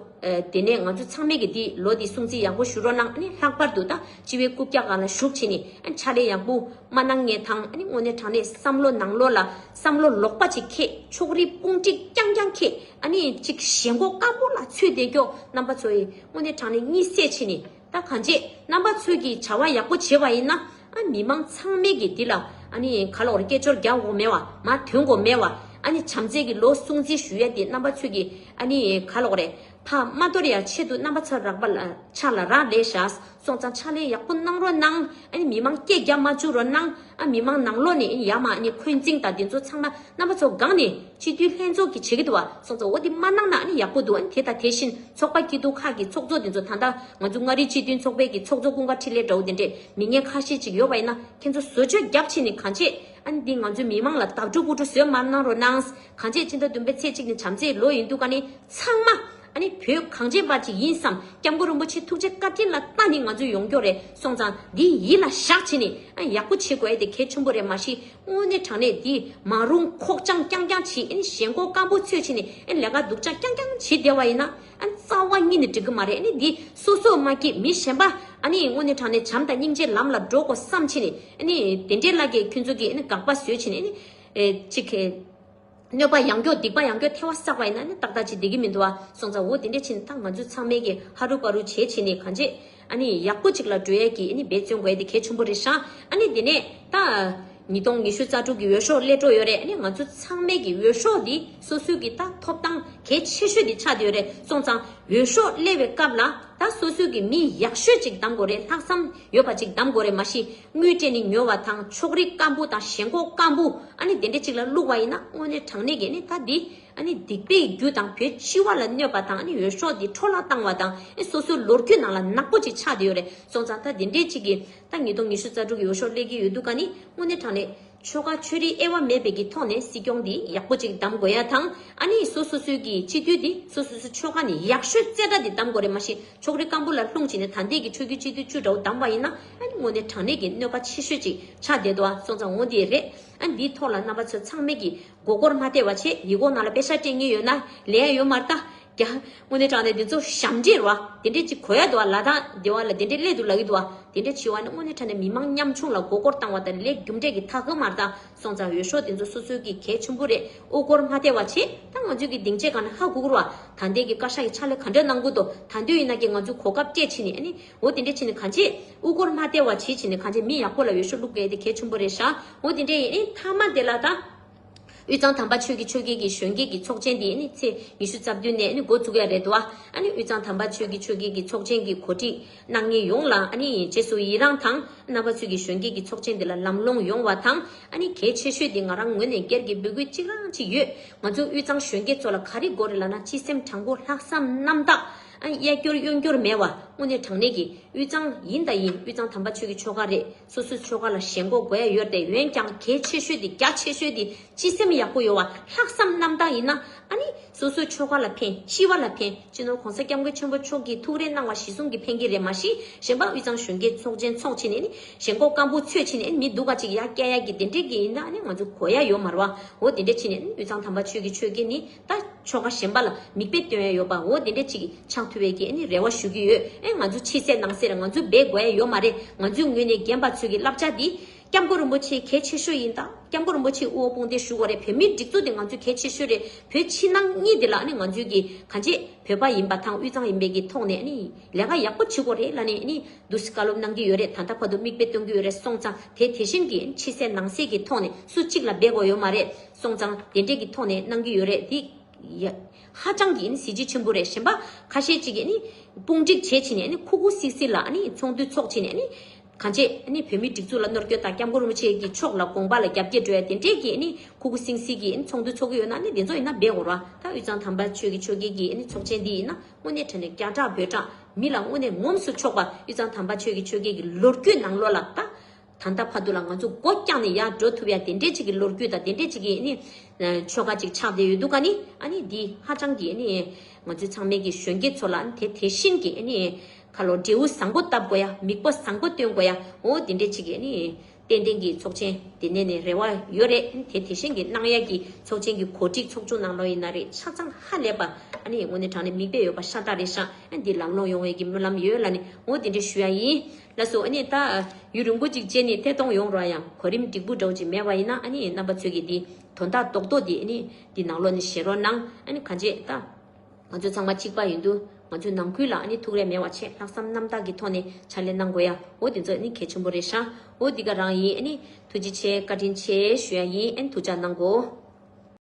དེ་ནས་ང་ཚོ་ཚང་མས་ཀྱི་འདི་ལོ་འདི་སྲུང་བརྩི་ཡག་པོ་ཞུ་རོགས་གནང་ནི་ལྷག་པར་དུ་ད་སྤྱི་བའི་རྐུབ་བཀྱག་ག་ལ་ཞུགས་ཕྱིན་ནི་ཕྱག་ལས་ཡག་པོ་མ་གནང་ངེས་དང་ནི་དངོས་གནས་དྲང་གནས་བསམ་བློ་ནང་བློ་ལ་བསམ་བློ་ལོག་པ་ཅིག་ཁྱེད་ཕྱོགས་རིས་དཔུང་བསྒྲིགས་རྐྱང་རྐྱང་ཁྱེད་ནི་ཅིག་ཞེན་གོ་དཀར་པོ་ལ་ཚུད་བསྡད་ཀྱོག་རྣམ་པ་ཚོ་ཡིས་དངོས་གནས་དྲང་གནས་གཉིད་སད་ཕྱིན་ནི། ད་གང་བྱེད་རྣམ་པ་ཚོས་ཀྱི་བྱ་བ་ཡག་པོ་བྱེད་པ་ཡིན་ན་ཨ་མི་མང་ཚང་མས་ཀྱི་འདི་ལ་ཨ་ནི་ག་ལོར་སྐད་ཅོར་རྒྱག་འོག་མེད་བ་མ་དོན་གོ་མེད་བ་ཨ་ནི་བྱམས་བརྩེ་ཀྱི་ལོ་སྲུང་བརྩི་ཞུ་ཡ་འདི་རྣམ་པ་ཚོས་ཀྱི་ཨ་ནི་ག་ལོག་རེད་ཕ་མ་དོར་ཡ་ཆེད་དུ་རྣམ་པ་ཚ་རག་པ་ལ་ཕྱག་ལ་རག་ལས་བཞག་སོང་ཙང་ཕྱག་ལས་ཡག་པོ་གནང་རོགས་གནང་ཨ་ནི་མི་མང་སྐད་རྒྱག་མ་བཅུག་རོགས་གནང། ཨ་མི་མང་ནང་ལོག་ནས་ཡ་མ་ནི་འཁོན་འཛིང་དང་འདི་ཚོ་ཚང་མ་རྣམ་པ་ཚོ་འགག་ནས་སྤྱི་འཐུས་ལྷན་ཚོགས་ཀྱི་བྱེད་ཀྱི་འདུག་བ་སོགས་ཚོ་འོ་དེ་མ་གནང་ན་ནི་ཡག་པོ་འདུག་དེ་དང་དེ་བཞིན་ཚོགས་པ་སྐྱིད་སྡུག་ཁག་གི་ཚོགས་གཙོ་འདི་ཚོ་ད་ལྟ་ང་ཚོ་མངའ་རིས་སྤྱི་མཐུན་ཚོགས་པའི་གི་ཚོགས་གཙོ་ཀུན་དགའ་འཕྲིན་ལས་འདྲ་བོ་དེ་འདྲས་མི་ངན་ཁ་ཤས་ཅིག་ཡོད་པ་ཡིན་ན་ཁྱེད་ཚོ་བཟོ་བཅོས་རྒྱག་ཕྱིན་ནི་གང་བྱེད་ཨ་ནི་འདི་ང་ཚོའི་མི་མང་ལ་དག་སྒྲུབ་དབུ་སྒྲུབ་བཟོས་མ་གནང་རོགས་གནང། གང་བྱེད་སྤྱི་ཟླ་བདུན་པའི་ཚེས་གཅིག་ནི་བྱམས་བརྩེའི་ལོ་ཡིན་འདུག་ག་ནི་ཚང་མ་ད་ནི་བོད་གངས་ཅན་པ་ཅིག་ཡིན་བསམ་སྐྱབས་མགོན་རིན་པོ་ཆེ་ཐུགས་རྗེ་བཀའ་དྲིན་ལ་ལྟ་ནི་ང་ཚོའི་ཡོང་སྐྱོ་རེད་སོང་ཙང་འདི་ཡིད་ལ་བཞག་བྱེད་ནི་ཡག་པོ་བྱེད་དགོས་ཨེ་དེ་གལ་ཆེན་པོ་རེད་མ་གཞི་དངོས་གནས་དྲང་གནས་འདི་མ་རུང་ཁོག་བཅང་རྐྱང་རྐྱང་བྱེད་ཨེ་ནི་ཞེན་ཁོག་སྐམ་པོ་ཚོས་བྱེད་ནི་ལས་ཀ་སྡུག་ཅག་རྐྱང་རྐྱང་བྱེད་བསྡད་བ་ཡིན་ན་རྩ་བ་གཉིས་ནི་འགྲིག་གི་མ་རེད་ཨེ་ནི་འདི་སོ་སོ་མ་སྐྱིད་མི་གཞན་པ་ཨ་ནི་དངོས་གནས་དྲང་གནས་བྱམས་དང་སྙིང་རྗེའི་ལམ་ལ་འགྲོ་དགོས་བསམ་བྱེད་ནི་དེ་འདྲའི་བླ་རྒན་ཁྱོད་ཚོ་གིས་དགག་པ་བཟོས་བྱེད་ནི་ཨེ་ནི་ཅིག། གནོད་པ་ཡང་མགྱོགས་སྡིག་པ་ཡང་མགྱོགས་ཐལ་བ་བསགས་པ་ཡིན་ན་ནི་ཏག་ཏག་ཅིག་བདེ་གི་མི་འདུག་བ་སོང་ཙང་འོ་དེ་འདྲས་ཕྱིན་ད་ང་ཚོས་ཚང་མས་ཀྱི་ཧ་རུ་པ་རུ་བྱས་ཕྱིན་ནི་གང་བྱས་ཨ་ནི་ཡག་པོ་ཅིག་ལ་འགྲོ་ཡས་ཀྱི་ཨི་ནི་འབད་བརྩོན་དགོས་ཡས་དེ་གལ་ཆུང་པོ་རེད་ཤག་ཨ་ནི་དེ་ནས་ད། ཉིས་སྟོང་ཉི་ཤུ་རྩ་དྲུག་གི་འོས་ཤོག་སླེ་འགྲོ་ཡོད་རེད་ཨ་ནི་ང་ཚོ་ཚང་མས་ཀྱི་འོས་ཤོག་དེ་སོ་སོས་ཀྱི་ད་ཐོབ་ཐང་གལ་ཆེ་ཤོས་དེ་ཆགས་བསྡད་ཡོད་རེད་སོང་ཙང་འོས་ཤོག་སླེ་བའི་སྐབས་ལ་ད་སོ་སོས་ཀྱི་མི་ཡག་ཤོས་ཅིག་གདམ་དགོས་རེད་ལྷག་བསམ་ཡོད་པ་ཅིག་གདམ་དགོས་རེད་མ་གཞི་དངུལ་སྤྲད་ནས་ཉོ་བ་དང་ཕྱོགས་རིས་སྐམ་པོ་དང་ཞེན་ཁོག་སྐམ་པོ་ཨ་ནི་དེ་འདྲ་གཅིག་ལ་བླུགས་པ་ཡིན་ན་དངོས་གནས་དྲང་གནས་ཀྱི་ནི་ད་འདི་ཨ་ནི་སྡིག་པའི་རྒྱུ་དང་བོད་སྤྱི་བ་ལ་གནོད་པ་དང་ཨ་ནི་འོས་ཤོག་འདི་འཕྲོ་བརླག་བཏང་བ་དང་ཨ་ནི་སོ་སོའི་ལོ་རྒྱུས་ནང་ལ་ནག་པོ་ཅིག་ཆགས་བསྡད་ཡོད་རེད་སོང་ཙང་ད་འདི་འདྲའི་གཅིག་གིས་ད་ཉིས་སྟོང་ཉི་ཤུ་རྩ་དྲུག་གི་འོས་ཤོག་སླེལ་གྱི་ཡོད་འདུག་ཨ་ནི་དངོས་གནས་དྲང་གནས། ཆོལ་ཁ་ཆོས་རིག་དབྱེ་བ་མེད་པའི་ཀྱི་ཐོག་ནས་སྲིད་སྐྱོང་འདི་ཡག་པོ་ཅིག་གདམ་དགོས་ཡ་དང་ཨ་ནི་སོ་སོ་སོའི་ཀྱི་སྤྱི་འཐུས་འདི་སོ་སོ་སོའི་ཆོལ་ཁ་ནས་ཡག་ཤོས་རྩེ་གྲ་འདི་གདམ་དགོས་རེད་མ་གཞི་ཕྱོགས་རིས་སྐམ་པོ་ལ་ལྷུང་བྱས་ནས་ད་འདས་ཀྱི་ཕྲུ་གུའི་སྤྱི་འཐུས་བཅུ་འདྲ་བོ་གདམ་པ་ཡིན་ན་ཨ་ནི་ངོ་ནས་དྲང་གནས་ཀྱི་གནོད་པ་ཆེ་ཤོས་ཅིག་ཆགས་བསྡད་འདུག་ཨ་སོང་ཙང་ངོ་འདི་རེད་ཨ་ནི་འདིའི་ཐོག་ལ་རྣམ་པ་ཚོས་ཚང་མས་ཀྱི་མགོ་སྐོར་མ་སྟེར་བ་ཆེད་ཡིག་གོག་ནང་ལ་དཔེ་ཆ་སྤྲད་ངེས་ཡོད་ན་ལས་ཡ་ཡོད་མ་རྟ་ཀྱང། སྔོན་ནས་དྲངས་ནས་འདི་ཚོ་ཞབས་འདྲེན་རུ་བ། དེ་འདྲས་ཅིག་གོ་ཡ་འདུག་བ་ལ་དང་དེ་བ་ལ་དེ་འདྲས་ལས་དུ་ལ་གི་འདུག་བ། དེ་འདྲས་ཆི་བ་ནི་སྔོན་ནས་དྲངས་ནས་མི་མང་ཉམས་ཆུང་ལ་མགོ་སྐོར་བཏང་བ་དང་ལེགས་རྒྱུ་འབྲས་ཀྱི་མཐའ་ཧུ་མར་དང་སོང་ཙང་འོས་ཤོག་དེ་ཚོ་སོ་སོའི་གི་གལ་ཆུན་པོ་རེད་དབུ་སྐོར་མ་ཐེ་བ་བྱེད་ད་ང་ཚོའི་གི་སྡིངས་ཆའི་གང་ན་ཧ་གུ་གུར་བ་ད་འདས་གི་བཀའ་ཤག་གི་ཕྱག་ལས་ག་འདྲས་གནང་དགོས་དོ་ད་འདོད་ཡིན་ན་གི་ང་ཚོའི་གོ་སྐབས་སྤྲད་ཕྱིན་ནས་ནི་འོ་དེ་འདྲས་ཕྱིན་ནས་གང་བྱེད་དབུ་སྐོར་མ་ཐེ་བ་བྱེད་ཕྱིན་ནས་གང་བྱེད་མི་ཡག་པོ་ལ་འོས་ཤོག་བླུག་གི་ཡ་དེ་གལ་ཆུན་པོ་རེད་ཤག་འོ་དེ་འདྲས་ཡིན་ནི་མཐའ་མ་དེ་ལ་དང། དབུས་གཙང་དམ་པ་ཆོས་ཀྱི་ཆོས་རྒྱལ་གྱི་གཞོན་སྐྱེས་ཀྱི་ཚོགས་ཆེན་དེ་ཚེས་ཉི་ཤུ་རྩ་བདུན་ནས་མགོ་བཙུགས་ཡ་རེད་དོ། དབུས་གཙང་དམ་པ་ཆོས་ཀྱི་ཆོས་རྒྱལ་གྱི་ཚོགས་ཆེན་གྱི་གོ་སྒྲིག་གནང་མཁན་ཡོངས་ལ་རྗེས་སུ་ཡི་རངས་དང། རྣམ་པ་ཚོས་ཀྱི་གཞོན་སྐྱེས་ཀྱི་ཚོགས་ཆེན་དེ་ལ་ལམ་སློང་ཡོང་བ་དང། གལ་ཆེ་ཤོས་དེ་ང་རང་ངོས་ནས་སྒེར་གྱི་འབོད་སྐུལ་གཅིག་རང་གཅིག་ཡོད། ང་ཚོ་དབུས་གཙང་གཞོན་སྐྱེས་ཚོ་ལ་ག་རེ་དགོས་རེད་ལ་ན་སྤྱི་སེམས་དྲང་པོ་ལྷག་བསམ་རྣམ་དག། གཡས་སྐྱོར་གཡོན་སྐྱོར་མེད་བ་དངོས་གནས་དྲང་གནས་ཀྱི་དབུས་གཙང་ཡིན་དང་ཡིན་དབུས་གཙང་དམ་པ་ཆོས་ཀྱི་ཆོལ་ཁ་རེད། སོ་སོའི་ཆོལ་ཁ་ལ་ཞེན་གོ་དགོས་ཡོད་དེ་འོན་ཀྱང་གལ་ཆེ་ཤོས་དེ་རྒྱ་ཆེ་ཤོས་དེ་སྤྱི་སེམས་ཡག་པོ་ཡོད་བ་ལྷག་བསམ་རྣམ་དག་ཡིན་ན་ཨ་ནི་སོ་སོའི་ཆོལ་ཁ་ལ་ཕན་ཤི་བ་ལ་ཕན་སྤྱི་ནོར་གོང་ས་སྐྱབས་མགོན་ཆེན་པོ་མཆོག་གིས་ཐུགས་རེ་གནང་བ་གཞི་བཟུང་གི་ཕན་གྱི་རེད་མ་གཞི་གཞན་པ་དབུས་གཙང་གཞོན་སྐྱེས་ཚོགས་ཆེན་ཚོགས་ཆེ་ནས་ནི་ཞེན་གོ་དཀར་པོ་ཚོས་ཕྱི་ནས་མི་སྡུག་ག་ཅིག་ཡ་སྐྱ་ཡ་གི་དེ་འདྲས་ཀྱི་ཡིན་ན་ཨ་ནི་ང་ཚོ་གོ་ཡ་ཡོད་མ་རོ་བ་འོ་དེ་འདྲས་ཕྱི་ནས་དབུས་གཙང་དམ་པ་ཆོས་ཀྱི་ཆོས་དགེ་ནི་ད་ཆོ་ག་གཞན་པ་ལ་མིག་དཔེ་སྟོན་ཡ་ཡོད་པའོ་དེ་འདྲས་ཅིག་གི་ཆགས་ཐུ་བས་ཀྱི་ནི་རེ་བ་ཞུ་གི་ཡོད་ཨེ་ང་ཚོ་ཕྱི་གསལ་ནང་གསལ་རེ་ང་ཚོ་སྦས་དགོས་ཡ་ཡོད་མ་རེད་ང་ཚོའི་ངོས་ནས་རྒན་པ་ཚོས་གི་བསླབ་བྱ་འདི་སྐྱབས་མགོན་རིན་པོ་ཆེ་གལ་ཆེ་ཤོས་ཡིན་ད་སྐྱབས་མགོན་རིན་པོ་ཆེ་དབུ་བོ་དཔུང་སྡེ་བཞུགས་བ་རེད་བོད་མིའི་སྒྲིག་འཛུགས་འདི་ང་ཚོའི་གལ་ཆེ་ཤོས་རེད་བོད་ཕྱི་ནང་གཉིས་འདི་ལ་ནི་ང་ཚོའི་གི་གང་ཅེས་བོད་པ་ཡིན་པ་དང་དབུས་གཙང་ཡིན་པའི་གི་ཐོག་ནས་ནི་ལས་ཀ་ཡག་པོ་བྱེད་དགོས་རེད་ལ་ནི་ནི་འདུ་ཤེས་བཀའ་སློབ་གནང་གི་ཡོད་རེད་ད་ལྟ་བར་དུ་མིག་དཔེ་སྟོན་གི་ཡོད་རེད་སོང་ཙང་དེ་དེ་བཞིན་གི་ཕྱི་གསལ་ནང་གསལ་གི་ཐོག་ནས་སུ་གཅིག་ལ་སྦས་དགོས་ཡོད་མ་རེད། སོང་ཙང་དེ་འདྲས་ཀྱི་ཐོག་ནས་གནང་གི་ཡོད་རེད་འདི། ཧ་ཅང་གི་གཟི་བརྗིད་ཆེན་པོ་རེད་གཞན་པ་ཁ་ཤས་ཅིག་གིས་དཔུང་སྒྲིག་བྱས་ཕྱིན་ནས་ཁུག་ཁུག་སིག་སིག་ལ་ཚོགས་འདུ་ཚོགས་ཕྱིན་ནས་གང་བྱེད་བོད་མིའི་སྒྲིག་འཛུགས་ལ་ནོར་སྐྱོན་དང་སྐྱབས་མགོན་རིན་པོ་ཆེ་གི་ཕྱོགས་ལ་དགོངས་པ་ལ་རྒྱབ་སྐྱེད་སྒྲོལ་བ་དེ་འདྲས་ཀྱི་ཁུག་ཁུག་སིང་སིག་གི་ཚོགས་འདུ་ཚོགས་ཀྱི་ཡོད་ན་དེ་ཚོ་ཡིན་ན་སྦས་འོར་བ་ད་དབུས་གཙང་དམ་པ་ཆོས་ཀྱི་ཆོས་རྒྱལ་གྱི་ཚོགས་ཆེན་འདི་ཡིན་ན་དངོས་གནས་ཁྲ་ནས་སྐྱ་གྲགས་འབོད་གྲགས་མི་ལ་དངོས་གནས་ངོམས་སུ་ཆོག་པ་དབུས་གཙང་དམ་པ་ཆོས་ཀྱི་ཆོས་རྒྱལ་གྱི་ལོ་རྒྱུས་ནང་ལོ་ལ་ད། ད་ལྟ་བར་དུ་ལ་ང་ཚོ་སྒོ་རྐྱང་ནས་ཡར་འགྲོ་ཐུབ་ཡ་དེ་འདྲས་ཅིག་གི་ལོ་རྒྱུས་དང་དེ་འདྲས་ཅིག་གི་ནི་ཆོ་ག་ཅིག་ཆགས་བསྡད་ཡོད་འདུག་ག་ནི་ཨ་ནི་འདི་ཧ་ཅང་གི་ནི་ང་ཚོའི་ཚང་མའི་གི་གཞོན་སྐྱེས་ཚོ་ལ་དེ་དེ་བཞིན་གི་ནི་ཁ་ལོ་འབྲས་བུ་བཟང་པོ་བཏབ་དགོས་ཡ་མིག་པ་བཟང་པོ་སྟོན་དགོས་ཡ་འོ་དེ་འདྲས་ཅིག་གི་ནི་ཏན་ཏན་གི་ཚོགས་ཆེན་དེ་ནས་ནི་རེ་བ་ཡོད་རེད་དེ་དེ་བཞིན་གི་གནང་ཡ་གི་ཚོགས་ཆེན་གི་གོ་སྒྲིག་ཚོགས་ཆུང་གནང་ལོ་ཡིན་ན་རེད་ཆ་ཚང་ཧ་ལས་པ་ཨ་ནི་ངོ་ནས་དྲང་ནས་མིག་དཔེ་ཡོད་པ་ཤ་སྟག་རེད་ཤག་འདི་ལམ་ལོང་ཡོང་ཡ་གི་སྨོན་ལམ་ཡོད་ལ་ནི་འོ་དེ་འདྲས་ཞུ་ཡ་ཡིན། ལ་སོགས་ནི་ལྟ། ཡུན་རིང་པོ་ཅིག་བཅད་ནི་ཐད་གཏོང་ཡོང་རོགས་ཡང་གོ་རིམ་འགྲིག་པོ་འགྲོ་ཅིག་མེད་པ་ཡིན་ན་རྣམ་པ་ཚོད་ཀྱིས་འདི་དོན་དག་རྡོག་རྡོག་འདི་ནི་འདི་ནང་ལོག་ནི་བཞེས་རོགས་གནང། ག་འབྱེད་ལྟ། ང་ཚོ་ཚང་མ་གཅིག་པ་ཡིན་དུས་ང་ཚོའི་ནང་ཁུལ་ལ་ནི་ཐུགས་རེ་མེད་བ་ཆེད་ལྷག་བསམ་རྣམ་དག་གི་ཐོག་ནས་ཕྱག་ལས་གནང་དགོས་ཡ་འོ་འདི་ཚོ་ནི་གལ་ཆེན་པོ་རེད་ཤ་འོ་འདི་ག་རང་ཡིན་ནི། ཐུགས་རྗེ་ཆེ་བཀའ་དྲིན་ཆེ་ཞུ་ཡ་ཡིན་འཐུ་ཅག་གནང་གོ།